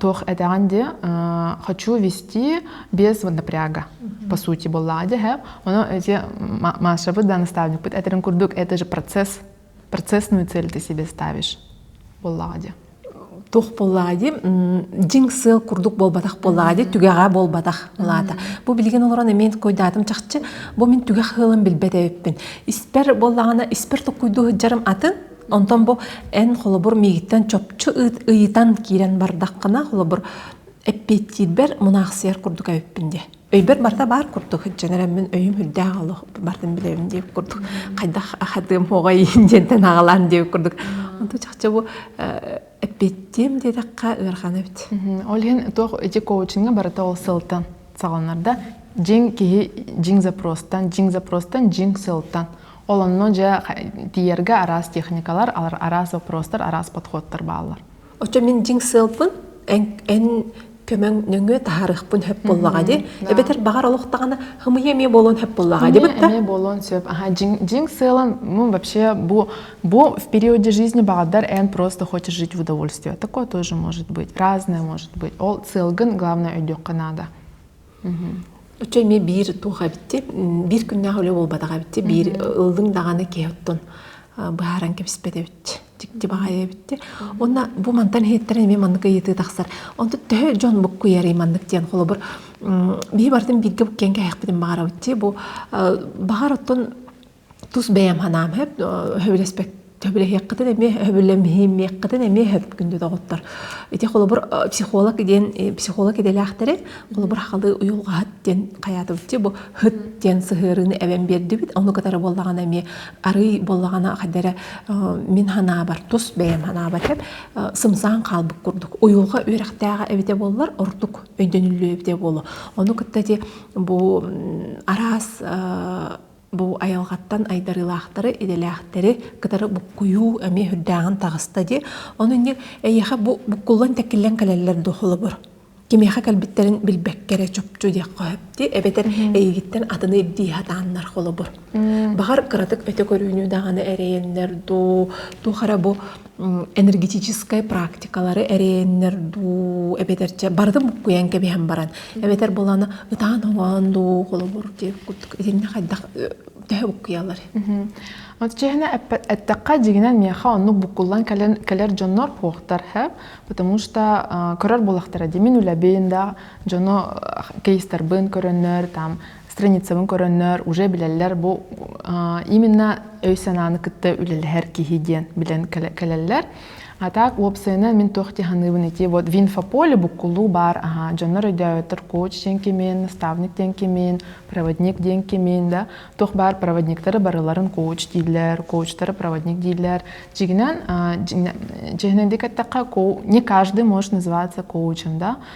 туох этэҕин ди хочу вести без напряга по сути буоллаҕа дьэ һэ ону эти Машабыт да наставникпыт этэрин курдук это же процесс процессную цель ты себе ставишь буоллаҕа ди туох буоллаҕа ди дьиҥ сыал курдук буолбатах буоллаҕа ди түгэҕэ буолбатах былаата бу билигин олорон эмиэн куйдаатым чахчы бу мин түгэх сыалым билбэт эбиппин испэр буоллаҕына испэр токкуйдуу сылдьарым атын Онтон бу эн холобур миигиттэн чопчу ыйытан киирэн бардаххына, холобур, эппиэттиирбэр мунаахсыйар курдук эбиппин диэ. Өйбөр барыта баар курдук сылдьан эрэммин өйүм үрдээх олох бардын билэбин диэх курдук хайдах ахатыам оҕой диэнтэн аҕалаан диэх курдук онту чахчы бу эппиэттиэм диэтэххэ ыарахан эбит ол иһин туох ити коучинга барыта ол сылтан саҕаланар да дьиҥ киһи дьиҥ запростан дьиҥ запростан дьиҥ сылтан Ол онно дьэ тиийэргэ араас техникалар, араас вопростар, араас подходтар бааллар. Оччо мин дьиҥ сыалпын эн, эн көмөҥ нөҥүө таһарыахпын сөп буоллаҕа дии. Эбэтэр баҕар олохтаҕына хымыйа эмиэ буолуон сөп буоллаҕа дии бытта. Эмиэ буолуон сөп. Аха дьиҥ дьиҥ сыалым ну вообще бу бу в периоде жизни багдар эн просто хочешь жить в удовольствие. Такое тоже может быть. Разное может быть. Ол сыалгын главное өйдүөххэ наада. Оччо эмиэ биир туох эбитти, биир күннээх үлэ буолбатах эбитти, биир ыллыҥ даҕаны киһи оттон быһааран кэбиспэт эбит. Дьикти баҕайы эбитти. Уонна бу мантан иһиттэрэн эмиэ маннык ыйытыы тахсар. Онтон төһө дьон буккуйарый маннык диэн холобур биһи барытын бииргэ буккуйан кэһиэхпитин баҕарабыт дии. Бу баҕар оттон тус бэйэм санаам сөп сөбүлэспэт сөбүлэһиэххитин эмиэ сөбүлэммиэххитин эмиэ сөп күндү доҕоттор ити холобур психолог диэн психолог идэлээхтэри холобур халы уйулҕаһыт диэн хайаатыбытчи бу хыт диэн сыһыарыыны эбэн биэрдибит ону кытары буоллаҕына эмиэ арый буоллаҕына хайдара мин санаабар тус бэйэм санаабар сөп сымсаан хаалбыт курдук уйулҕа үөрэхтээҕэ эбитэ буоллар ордук өйдөнүллүө эбитэ буолуо ону кытта ити бу араас Бу айылҕаттан айдарыылаахтары, идэлээхтэри кытары буккуйуу эмиэ үрдээҕин таҕыста дии. Ону инньэ эйиэхэ бу буккуллан-тэкиллэн кэлэллэр дуо холобур? Кимиэхэ кэлбиттэрин билбэккэ эрэ чопчу диэххэ сөп дии, эбэтэр эйигиттэн атыны ирдии сатааннар холобур. Баҕар кыратык өтө көрүүнү даҕаны эрэйэннэр дуу, туох эрэ бу энергетическай практикалары эрэйэннэр дуу эбэтэр чэ барытын буккуйан кэбиһэн баран эбэтэр буолана ытаан омоон дуу холобур диир итиннэ хайдах төһө буккуйалар Отчаһына эттэххэ дьигинэн миэхэ оннук буккуллан кэлэн кэлэр дьоннор куохтар һэп потому что көрөр буолахтара димин үлэбин да дьону кейстарбын көрөннөр там страницабын көрөннөр уже билэллэр бу именно өй-санааны кытта үлэлэһэр киһи диэн билэн кэлэллэр а так уопсайынан мин туох диһаныыбын ити вот в инфополе буккулуу баар аха дьоннор өйдөөтөр коуч диэн кимин наставник диэн кимин проводник диэн кимин да туох баар проводниктары барыларын коуч дииллэр коучтары проводник дииллэр дигинен дигинен дикаттака не каждый может называться коучем да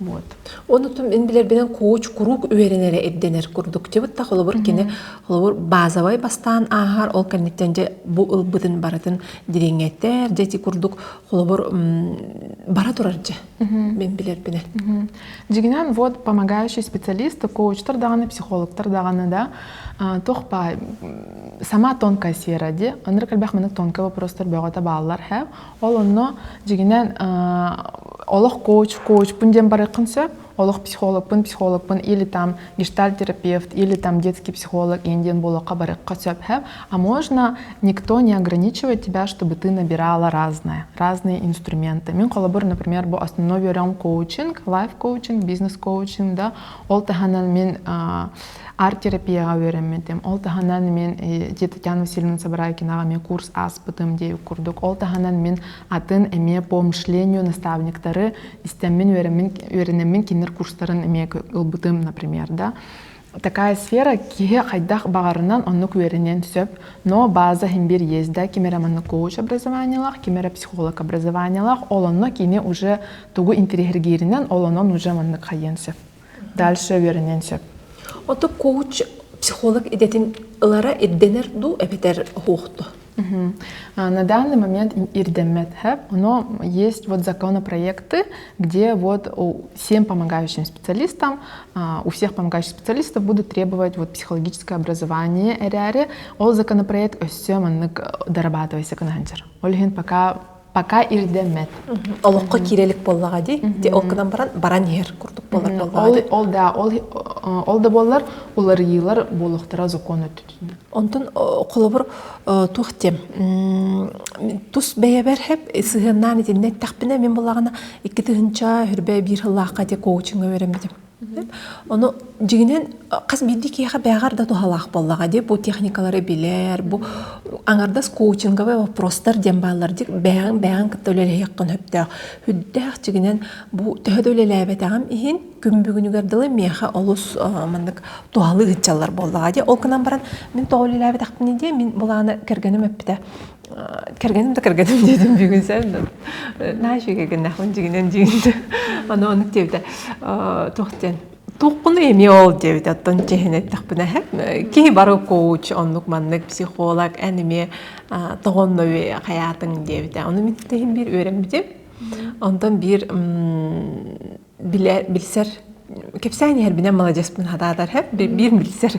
Вот. Онутум мин билэрбинэн кууч куруук үөрэнэрэ ирдэнэр курдук. Тибытта холобур кини холобур базовай бастаан ааһар ол кэнниттэн дьэ бу ылбытын барытын дириҥэтэр дьэ ити курдук холобур бара турар дьэ мин билэрбинэн. Дигинен вот помогающий специалисты коучтар даҕаны психологтар даҕаны да тохпа сама тонкая сера ди ынырык элбэх маны тонкый вопростар бөҕөтө бааллар һэм Ол онно дьигинэн олох коуч коучпун диэн барыаххын сөп олох психологпун психологпун или там гештальтерапевт или там детский психолог иэн диэн буолуохха барыахха сөп хэп а можно никто не ограничивать тебя чтобы ты набирала разное разные инструменты мен холобур например бу основной берем коучинг лайф коучинг бизнес коучинг да ол таһынан мен арт-терапияҕа үөрэммитим. Ол таһынан мин дьиэ Татьяна Васильевна Собрайкинаҕа эмиэ курс ааспытым диэн курдук. Ол таһынан мин атын эмиэ по мышлению наставниктары истэммин үөрэммин үөрэнэммин кинилэр курстарын эмиэ ылбытым, например, да. такая сфера киһи хайдах баҕарынан оннук үөрэниэн сөп но база химбир есть да ким эрэ манна коуч образованиялаах ким эрэ психолог образованиялаах ол онно кини уже тугу интириэһиргииринэн ол онон уже маннык хайыан сөп Дальше үөрэниэн сөп. Оту коуч психолог идэтин ылара ирдэнэр дуу эбэтэр оһуохто? На данный момент ирдэммэт хэп, но есть вот законопроекты, где вот всем помогающим специалистам, у всех помогающих специалистов будут требовать вот психологическое образование эряре. Ол законопроект өссө маннык дорабатывайса кынаханчар. Ол иһин пока пока ирдэммэт олоххо киирэ илик буоллаҕа дии ти ол гынан баран баран иһэр курдук болар боллаҕа ол да ол ол да боллар уларыйыылар буолуохтара закон өттүтүнэн онтон холобур туох тем тус бэйэбэр хэп сыһыаннаан итиннэ эттэхпинэ мин булаҕына икки тыһынча хүрбэ биир сыллаахха ти коучинга беремдим Ону дьиҥинэн хас биирдии киһиэхэ бэҕэр да туһалаах буоллаҕа дии бу техникалары билэр, бу аҥардас коучинговый вопростар диэн бааллар дьик бэйэҕин бэйэҕин кытта үлэлэһиэххин сөптөөх. Үрдээх дьиҥинэн бу төһө да үлэлээбэтэҕим иһин күн бүгүнүгэр дылы миэхэ олус маннык туһалыы ыччаллар буоллаҕа дии. Ол гынан баран мин тоҕо үлэлээбэтэхпиний дии мин былаана кэргэним эппитэ кэргэним да кэргэним диэтим бүгүн сен да нааши кэргеннахпын дигинен дигинде аны ону диэбитэ туох диэн тухкуну эми ол диэбит оттон чеһин эттэхпинэ киһи бары коуч оннук маннык психолог эниме тоҕоннови хаятың диэбитэ ону миттехин биир үөрэммитим онтон биир билэ билсэр кэпсээн иһэрбинэн маладьыаспын хатаатар хэп биир билсэр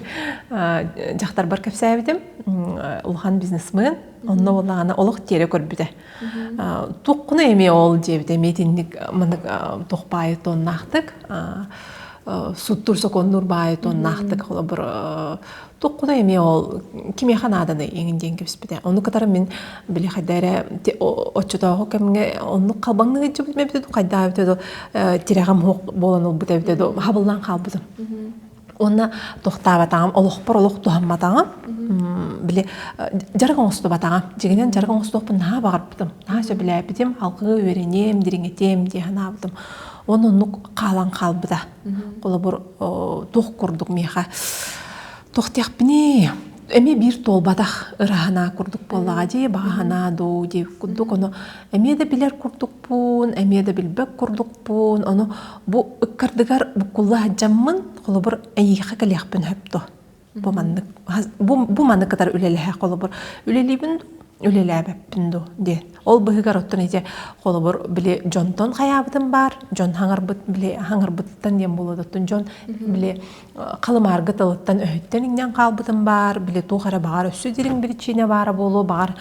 дьахтарбар кэпсээбитим улахан бизнесмен онно улаана олох тиэрэ көрбүтэ туоххуна эмиэ ол диэбитэ эмиэтинник маннык туох баайы туоннаахтык суттур сокуоннуур баайы туоннаахтык холобур Туққуна эмиэ ол кимиэхэ нааданый эҥин диэн кэбиспитэ. Ону кытары мин били хайда эрэ оччотооҕу кэмҥэ оннук халбаҥныы илдьибит эбитэ дуу, хайдаа эбитэ дуу тирэҕим суох буолан ылбыт эбитэ дуу, хабыллан хаалбытым. Уонна тохтаабатаҕым, олохпор олох туһамматаҕым. Били дьарык оҥостубатаҕым. Дьиҥинэн дьарык оҥостуохпун наһаа баҕарбытым. Наһаа сөбүлээбитим. Алгыы үөрэниэм, дириҥэтиэм дии санаабытым. Уонна оннук хаалан хаалбыта. Холобур, туох курдук миэхэ тохтиахпыний эмиэ биир туолбатах ыраһанаа курдук буоллаҕа дии баҕаһынаа дуу дии курдук ону эмиэ да билэр курдукпун эмиэ да билбэт курдукпун ону бу ыккардыгар буккулла сылдьаммын холобур эйиэхэ кэлиэхпин сөп дуо бу маннык бу маны кытары үлэлэһэ холобур үлэлиибин үлэлээбэппин дуу диэн ол быһыгар оттон ити холобур били дьонтон хайаабытым баар дьон хаҥарбыт били хаҥарбыттан диэн буолуо оттон дьон били халымаарга тылыттан өһүттэн иҥнэн хаалбытым баар били туох эрэ баҕар өссө дириҥ биричиинэ баара буолуо баҕар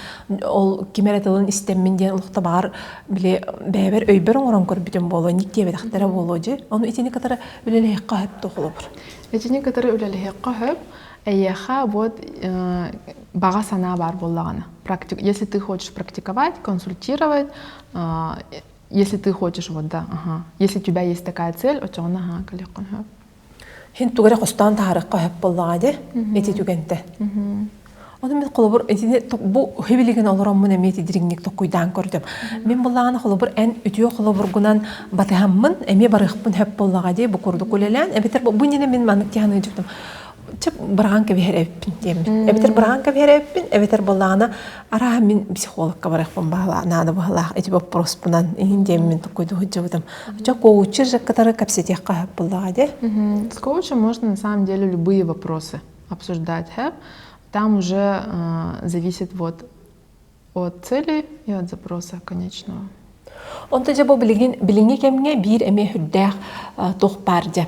ол ким эрэ тылын истэммин диэн олохто баҕар били бэйэбэр өйбөр оҥорон көрбүтүм буолуо ник диэбэтэхтэрэ буолуо дьэ ону итини кытары үлэлэһиэххэ сөптө холобур Итини кытары үлэлэһиэххэ сөп. Эйиэхэ вот баҕа санаа баар буоллаҕына. Практик, если ты хочешь практиковать, консультировать, если ты хочешь вот да, ага. Если у тебя есть такая цель, очоҕун аhaa кэлиэххин сөп. Һин тугу эрэ хостоон таһаарыахха сөп буоллаҕа дии. Ити түгэнтэ. Ону мин холобур итини бу хивилигин олороммун эмиэ тидириҥник токкуйдаан көрдүм. Мин былаана холобур эн үтүө холобургунан батыһаммын эмиэ барыахпын хөп буоллаҕа дии бу курдук улэлээн эбэтэр бу нинэ мин маннык тиһаны дьыктым чып быраҕан кэбиһэр эбиппин диэммин эбэтэр быраҕан кэбиһэр эбиппин эбэтэр былаана араа мин психологка барыахпын баһылаа наада баһылаах эти боппуруспунан иһин диэммин туккуйду хыддьыбытым чо коучир же катары кэпсэтиэххэ буллаҕа де с коучем можно на самом деле любые вопросы обсуждать, там уже зависит вот от цели и от запроса конечного. Онто дьэ бу билигин билиҥҥи кэмҥэ биир эмиэ үрдээх туох баар дьэ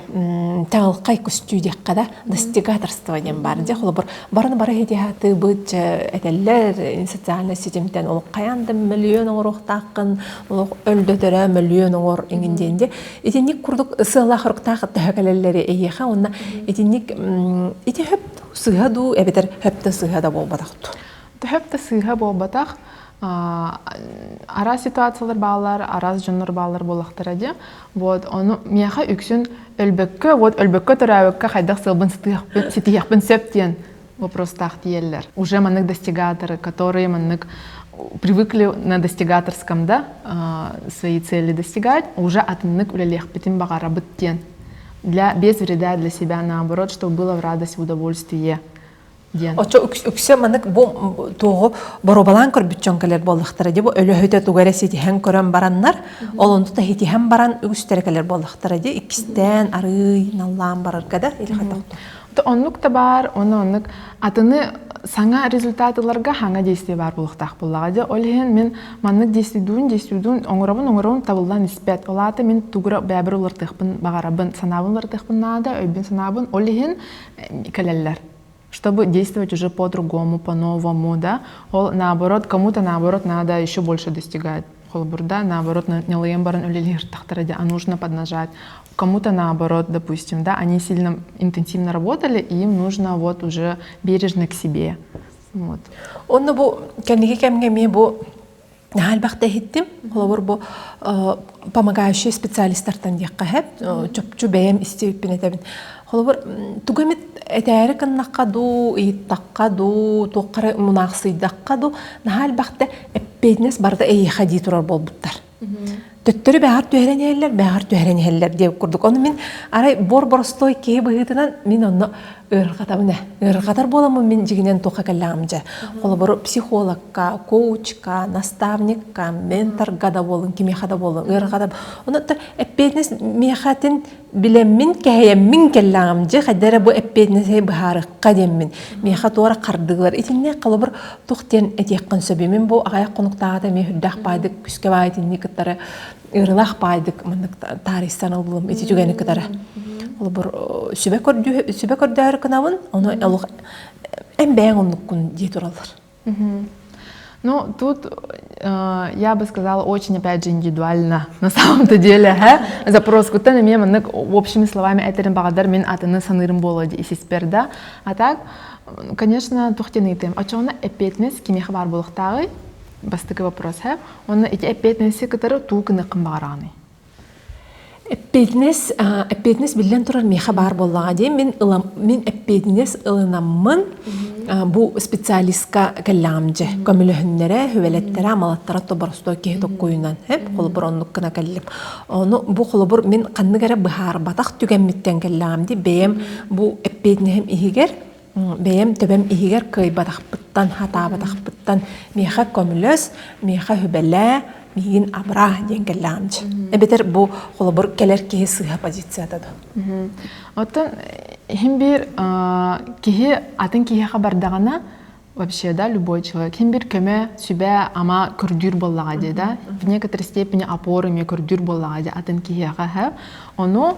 таалқай көстүү диэххэ да достигаторство диэн баар дьэ холобур барын бары хитиһааты быт этэллэр социальный ситимтэн олох хайаан да мөлүйүөн оҥоруохтааххын олох өлдөтөрө мөлүйүөн оҥор иҥин диэн дьэ Итинник курдук сыаллаах руктаах төһө кэлэллэри эйиэхэ уонна итинник ити хөп сыыһа дуу эбэтэр хөптө сыыһа да буолбатах Төһөптө сыыһа буолбатах араас ситуациялар баалар араас дьоннор баалар буолахтара дьэ вот ону миэхэ үксүн өлбөккө вот өлбөккө төрөөбөккө хайдах сыалбын сытыахпын ситиһиэхпин сөп диэн вопросах диеллэр. Уже маннык достигаторы, которые маннык привыкли на достигаторском да свои цели достигать, уже атыннык үлэлиэхпитин баҕарабыт диэн для без вреда для себя наоборот, чтобы было в радость, в удовольствие диэн. Очо үксэ маннык бу туоҕу боруобалаан көрбүт дьон кэлэр буоллахтара дии бу өлөһүтэ туга эрэ ситиһэн көрөн бараннар, олонту тахитиһэн баран үгүстэрэ кэлэр буоллахтара дии иккистээн арыый наллаан барарга да Оннук да баар, оны оннук атыны саҥа результат ыларга хаҥа действие баар буолуохтаах буоллаҕа дьэ ол иһин мин маннык действиедуун действиедуун оҥоробун оҥоробун табыллан испэт ол аата мин тугура бэйэбэр улартыахпын баҕарабын санаабын улартыахпын наада өйбүн санаабын ол иһин кэлэллэр чтобы действовать уже по-другому, по-новому, да, ол наоборот, кому-то наоборот надо еще больше достигать. Холобур, да, наоборот, нялыйан баран үлэлиэхтахтара дьэ, а нужно поднажать. Кому-то наоборот, допустим, да, они сильно интенсивно работали, им нужно вот уже бережно к себе. Вот. Онно бу кэнники кэмҥэ эмиэ бу Наһальбахта иһиттим, холобур бу помогающие специалистартан диэххэ хэт, чопчу бэйэм истиэппин этэбин. Холобур, тугу эмит этээри гыннахха дуу, ыйыттахха дуу, туохха эрэ мунаахсыйдахха дуу, наһаа элбэхтэ эппиэтинэс барыта эйиэхэ дии турар буолбуттар. Төттөрү бэҕэр түһэрэн иһэллэр, бэҕэр түһэрэн иһэллэр диэн курдук. Ону мин арай бор-боростуой киһи быһыытынан мин онно ыарырҕатабын ээ. Ыарырҕатар буоламмын мин дьигинэн туохха кэллэҕим дьэ. Холобур, психологка, коучка, наставникка, менторга да буоллун, кимиэхэ да буоллун, ыарырҕата. Онуттан эппиэтинэс миэхэтин билэммин кэһэйэммин кэллэҕим дьэ хайда эрэ бу эппиэтинэси быһаарыкка диэммин миэхэ туора хардыылар итиннэ холобур тух диэн этиэххин сөбүмин бу аҕайах хонуктааҕыта эмиэ үрдээх баайдык күскэ баай итинник кытары ыырылаах баайдык маннык таарыйсан ыллым ити түгэни кытары холобур сүбэ көрдүү сүбэ көрдөөр кынабын ону олох эн бэйэҥ оннуккун дии тураллар Ну, тут, э, я бы сказала, очень, опять же, индивидуально на самом-то деле, һэ? Запрос куттан эмиэ маннык общими словами этэрин баҕардар мин атыны саныырым буолуо дии исиспэр да. А так, конечно, тухтаныытым. Очоҕуна эппиэтинэс кимиэхэ баар буолуохтааҕый? Бастакы вопрос, һэ? Онно ити эппиэтинэси кытары туу гыныаххын баҕараҕыный? эппиэтинэс эппиэтинэс биллэн турар миэхэ баар буоллаҕа дии мин ылам мин эппиэтинэс ылынаммын бу специалистка кэллэҕим дьэ көмөлөһүннэрэ хүвэлэттэрэ амалаттара тоборосто киһи токкуйунан эп холобур оннук гына кэллим ону бу холобур мин ханнык эрэ быһаарбатах түгэммиттэн кэллэҕим дии бэйэм бу эппиэтинэһим иһигэр бэйэм төбөм иһигэр кыайбатахпыттан, хатаабатахпыттан миэхэ көмөлөс, миэхэ хүбэлээ, миигин абыраа диэн кэллэҕим дьи. Эбэтэр бу холобур кэлэр киһи сыыһа позицията дуу. Оттон иһин биир киһи атын киһиэхэ бардаҕына вообще да любой человек хин бир көмө сүбэ ама көрдүүр буоллаҕа дии да в некоторой степени опора эмиэ көрдүүр буоллаҕа дии атын киһиэхэ ону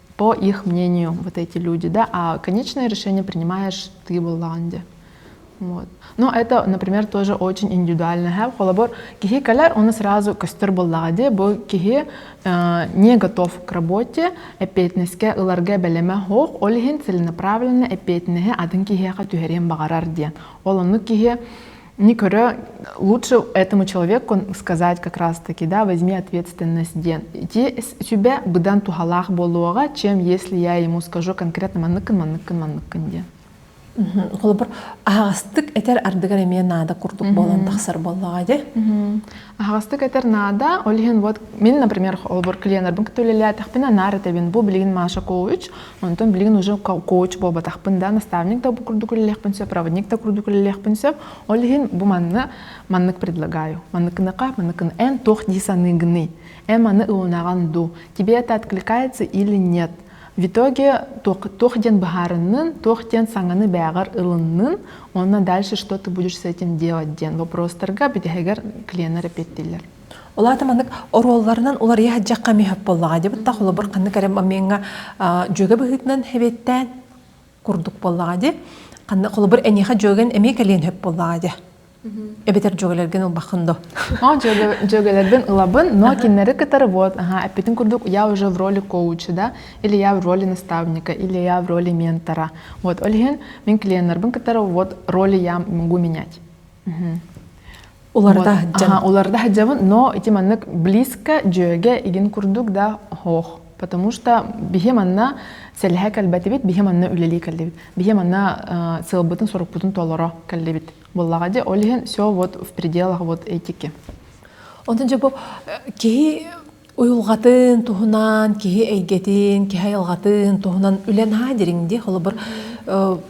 по их мнению вот эти люди, да, а конечное решение принимаешь ты в Голландии. Вот. Но это, например, тоже очень индивидуально. Холобор, кихи каляр, он сразу көстөр буллаҕа бу киһи не готов к работе, эппиэтинэскэ ыларга бэлэмэ хоох, ол иһин целенаправленно эппиэтинэһи атын киһиэхэ түһэриэн баҕарар диэн. Ол оннук киһи не говоря, лучше этому человеку сказать как раз-таки, да, возьми ответственность тебя быдан тухалаах болуоға, чем если я ему скажу конкретно манныкын, манныкын, манныкын диэн. Холобур, аастык этер ардыгар эмиэ наада курдук болон тахсар боллаҕа де. аһаҕастык этэр наада ол иһин вот мин например холобур клиеннэрбин кытта үлэлээтэхпинэ наар этэбин бу билигин маша коуч онтон билигин уже коуч буолбатахпын да наставник да курдук үлэлиэхпин сөп проводник да курдук үлэлиэхпин сөп ол иһин бу манна маннык предлагаю манныкыныка манныкын эн туох дии саныгыный эн маны ылынаган ду тебе это откликается или нет В итоге туох диэн быһаарыннын, туох диэн саҥаны бээҕэр ылыннын, онно дальше что ты будешь с этим делать диэн вопростарга бүтэһигэр клиеннер эппиэттииллэр. Ол аата маннык оруолларынан уларыйа саддьахха мехеп боллаҕа дебаттах олобор ханны кэрем амиңа дьүөгэ быһыытынан хеветтään курдук боллаҕа ди ханна холобур эниэхэ дьүөгэн эмиэ кэлиэн хөп боллаҕа ди эбэтэр дьүөгэлэргин ылбаккын до о дьүөгэлэрбин ылабын но кинилэри кытары вот аха эппитин курдук я уже в роли коуча да или я в роли наставника или я в роли ментора вот ол иһин мен клиентларбын кытары вот роли я могу менять уларда сылдьан уларда сылдьабын но ити маннык близко дьүөгэ игин курдук да хоох потому что бихи манна сэлэһэ кэлбэтибит бихи манна үлэлии кэллибит бихи манна сылбытын сорукпутун толоро кэллибит Буллаҕа дьэ, ол иһин все вот в пределах вот этики. Ону дьэ бу киһи уйулҕатын туһунан, киһи эйгэтин, киһи айылҕатын туһунан үлэн haa дириҥ дии, холобур,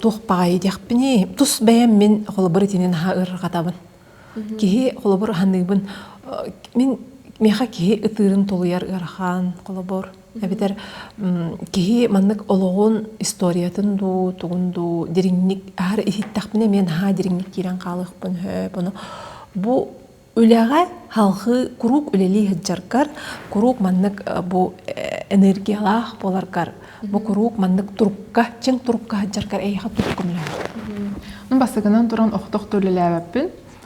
туох баҕайы диэхпиний, тус бэйэм мин холобур итинин haa ырырҕатабын. Киһи холобур аһыныыбын. Мин миэхэ киһи ытыырын толуйар ыарахан, холобур эбэтэр киһи маннык олоҕун историятын дуу тугун дуу дириҥник аһар иһиттэхпинэ эмиэ наһаа дириҥник киирэн хаалыахпын сөп ону бу үлэҕэ халҕыы куруук үлэлии сылдьаргар куруук маннык бу энергиялаах буоларгар бу куруук маннык турукка чиҥ турукка сылдьаргар эйиэхэ туруккун үлэлэһэр ну бастакынан туран охтох да үлэлээбэппин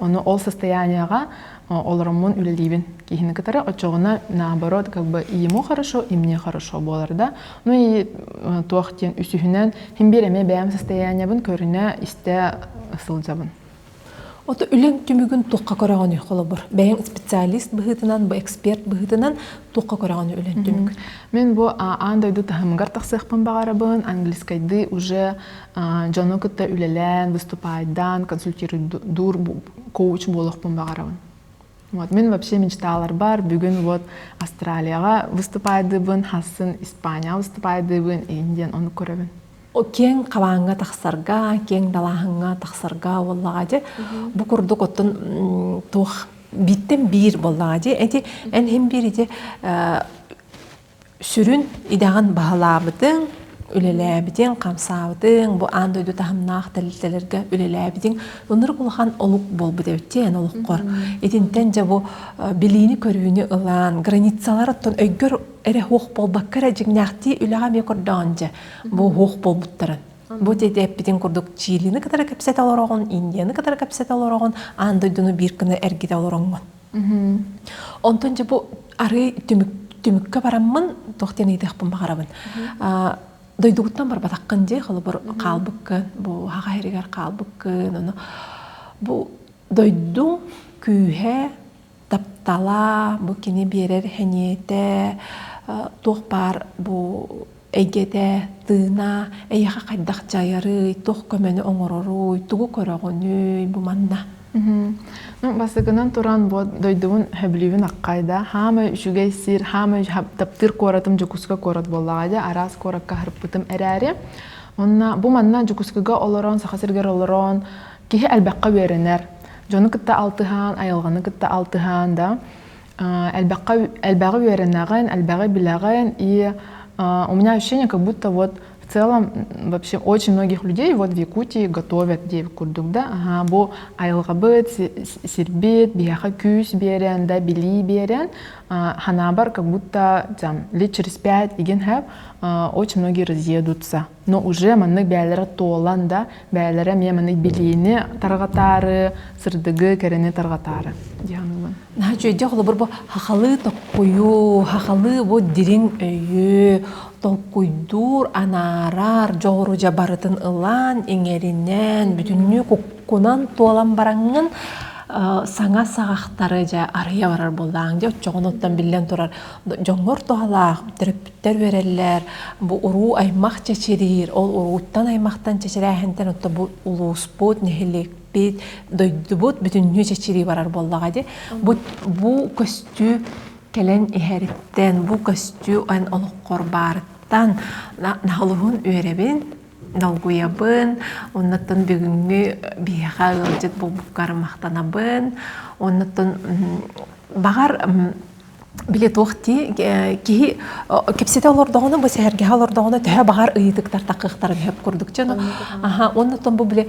Ону ол состоянияҕа олороммун үлэлиибин киһини кытары оччоҕуна наоборот как бы ему хорошо и мне хорошо буолар да ну и туох диэн үсүһүнэн хин биир эмиэ бэйэм состояниябын көрүнэ истэ сылдьабын Ото үлең түмүгүн туққа көрөҕүнү холобур. Бэйэң специалист быһыытынан, бу эксперт быһыытынан туққа көрөҕүнү үлэн түмүк. Мен бу аан дойду таһымыгар тахсыахпын баҕарабын, английскайдыы уже дьону кытта үлэлээн выступаайдаан консультируйдуур коуч буолуохпун баҕарабын вот мен вообще мечталарбар бүгүн вот австралияға выступайдыбын хассын испания выступайдыбын индиан ону көрөбүн кең хабааҥҥа тахсарга кең далааһыҥҥа тахсарга буоллаҕа дьэ бу курдук оттон туох биттэн биир буоллаҕа дьэ эти эн һин биир ити сүрүн идэҕин баһылаабытыҥ, үлэлээбитиҥ, хамсаабытыҥ, бу аан дойду таһымнаах тэрилтэлэргэ үлэлээбитиҥ ынырык улахан олук буолбут эбит эн олоххор. Итинтэн дьэ бу билиини-көрүүнү ылан, границалар оттон өйгөр эрэ хуох буолбакка эрэ дьиҥнээхтии үлэҕэ эмиэ көрдөҕүн дьэ бу хуох буолбуттарын. Бу тиэтэппитин курдук Чилини кытары кэпсэтэ олороҕун, Индияны кытары кэпсэтэ олороҕун, аан дойдуну биир гына эргитэ олороҥҥун. Онтон дьэ бу арыы түмүк түмүккэ бараммын туох диэн ыйытыахпын баҕарабын. Дойдугуттан барбатаххын дии, холобур хаалбыккын, бу хаһаайырыгар хаалбыккын, ону бу дойдуҥ күүһэ, таптала, бу кини биэрэр сэниэтэ, туох баар бу Эйгэтэ, тыына, эйиэхэ хайдах дьайарый, туох көмөнү оҥороруй, тугу көрөҕүнүй, бу манна? Бастакынан туран бу дойдубун сөбүлүүбүн аккайда. Хаамай үчүгэй сир, хаамай таптыыр куоратым Дьокуускай куорат буоллаҕа дии, араас куоракка харыппытым эрээри. Онно бу манна Дьокуускайга олорон, Саха сиригэр олорон киһи элбэххэ үөрэнэр. Дьону кытта алтыһан, айылҕаны кытта алтыһан да элбэххэ элбэҕи үөрэнэҕин элбэҕи билэҕин и у меня ощущение как будто вот в целом вообще очень многих людей вот в Якутии готовят диэбит курдук да аһаа бу айылҕабыт сирбит биһиэхэ күүс биэрэн да билии биэрэн ханаабар как будто там лет через пять igen have очень многие разъедутся Но уже маннык бэйэлэрэ туолан да, бэйэлэрэ эмиэ маннык билиини тарҕатаары, сырдыгы, кэрэни тарҕатаары диэн ылын. Наһаа үчүгэйдик холобур бу хахалы токкойуу, хахалы бу дириҥ өйү толкуйдуур, анаарар дьоҕурудьа барытын ылан, иҥэринэн, бүтүннүү куккунан туолан бараҥҥын саҥа саҕахтары дьэ арыйа барар буоллаҕыҥ дьэ оччоҕун оттон биллэн турар дьоҥҥор туһалаах Өттөр бэрэллэр, бу уруу аймах чэчириир, ол урууттан аймахтан чэчирээһинтэн отто бу улууспут, нэһиликпит, дойдубут бүтүннүү чэчирии барар буоллаҕа ди. Бу бу көстүү кэлэн иһэриттэн, бу көстүү эн олоххор баарыттан наһылыһын үөрэбин, долгуйабын, оннаттан бүгүҥҥү биһиэхэ ыалдьыт буолбуккар махтанабын, оннаттан баҕар билэ туох дии киһи кипсэтэ олордоҕуна бу сэһэргэһэ олордоҕуна төһө баҕар ыйытыктар такыахтарын сөп курдук дьоно аха оннуттан бу бile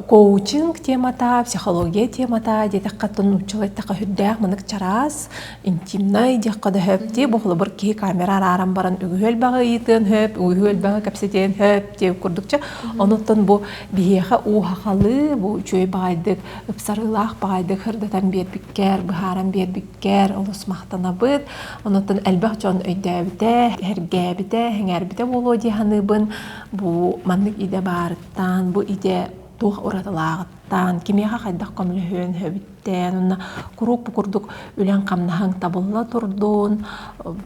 коучинг темата психология темата диэтэххэ тон нууччалай тақа үрдээх мынык чараас интимнай диэххэ да хөп дии бу холобур киһи камера арааран баран үгүһүөл баҕа ыйытыан хөп үгүһүөл баҕа кэпсэтиэн хөп дии курдук дьэ онуттан бу биһиэхэ ууһахалы бу үчүгэй баҕайдык ыпсарыылаах баҕайыдык һырдатан биэрбиккэр, быһааран биэрбиккэр олус махтанабыт. Онон элбэх дьон өйдөөбүтэ, эһэргээбитэ, сэҥээрбитэ буолуо дии саныыбын. Бу маннык идэ баарыттан, бу идэ туох уратылааҕыттан, кимиэхэ хайдах көмөлөһүөн сөбүттэн уонна куруук бу курдук үлэҥ-хамнаһыҥ табылла турдун,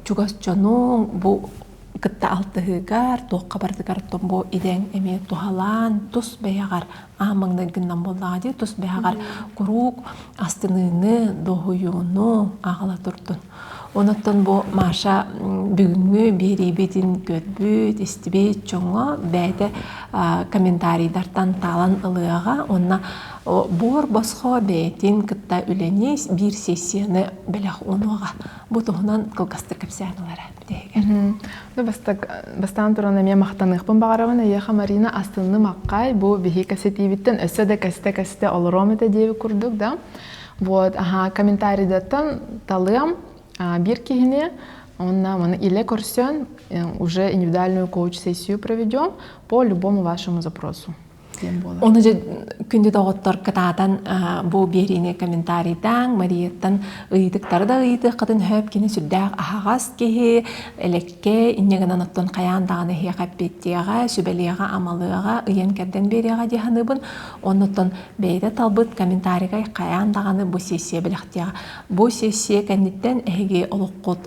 чугас дьонуҥ бу кытта алтыһыыгар, туохха барытыгар бу идэҥ эмиэ туһалаан тус бэйэҕэр аан маҥнай гыннам буоллаҕа дии тус бэйэҕэр куруук астыныыны, доһуйууну аҕала турдун. Онон бу Маша бүгүҥҥү биэриибитин көрбүт, истибит дьоҥҥо бэйэтэ комментарийтартан таалан ылыаҕа уонна буор босхо бэйэтин кытта үлэни биир сессияны бэлэх уунуоҕа. Бу туһунан кылгастык кэпсээн ылара. Бастаан туран эмиэ махтаныахпын баҕарабын эйиэхэ Марина астынны маккай бу биһиги кэсэтиибиттэн өссө да кэстэ-кэстэ олоруом этэ диэби курдук да вот аха комментариядаттан талыам биир киһини он нам или көрсөн уже индивидуальную коуч сессию проведем по любому вашему запросу Оны же күндү доҕоттор кытаатан бу биэриини комментарийтаан Марияттан ыйытыктары да ыйытыаххытын сөп кини сүрдээх аһаҕас киһи элекке инньэ гынан оттон хайаан даҕаны эһиэхэ эппиэттиэҕэ сүбэлиэҕэ амалыаҕа ыйан кэрдэн биэриэҕэ дии саныыбын оннуттан бэйэтэ талбыт комментарийгай хайаан даҕаны бу сессия бэлэхтиэҕэ бу сессия кэнниттэн эһиги олоххут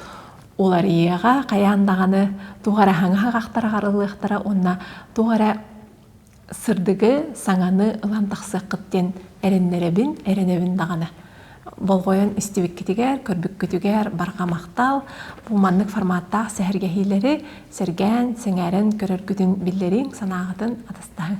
уларыйыаҕа хайаан даҕаны туох эрэ хаҥаһах ахтар аҕарыллыахтара уонна туох эрэ сырдыгы, саҥаны ылан тахсыаххыт диэн эрэннэрэбин, эрэнэбин даҕаны. Болҕойон истибиккитигэр, көрбүккүтүгэр барҕа махтал. Бу маннык форматтаах сэһэргэһиилэри сэргээн, сэҥээрэн көрөргүтүн биллэриҥ, санааҕытын атастаһыҥ.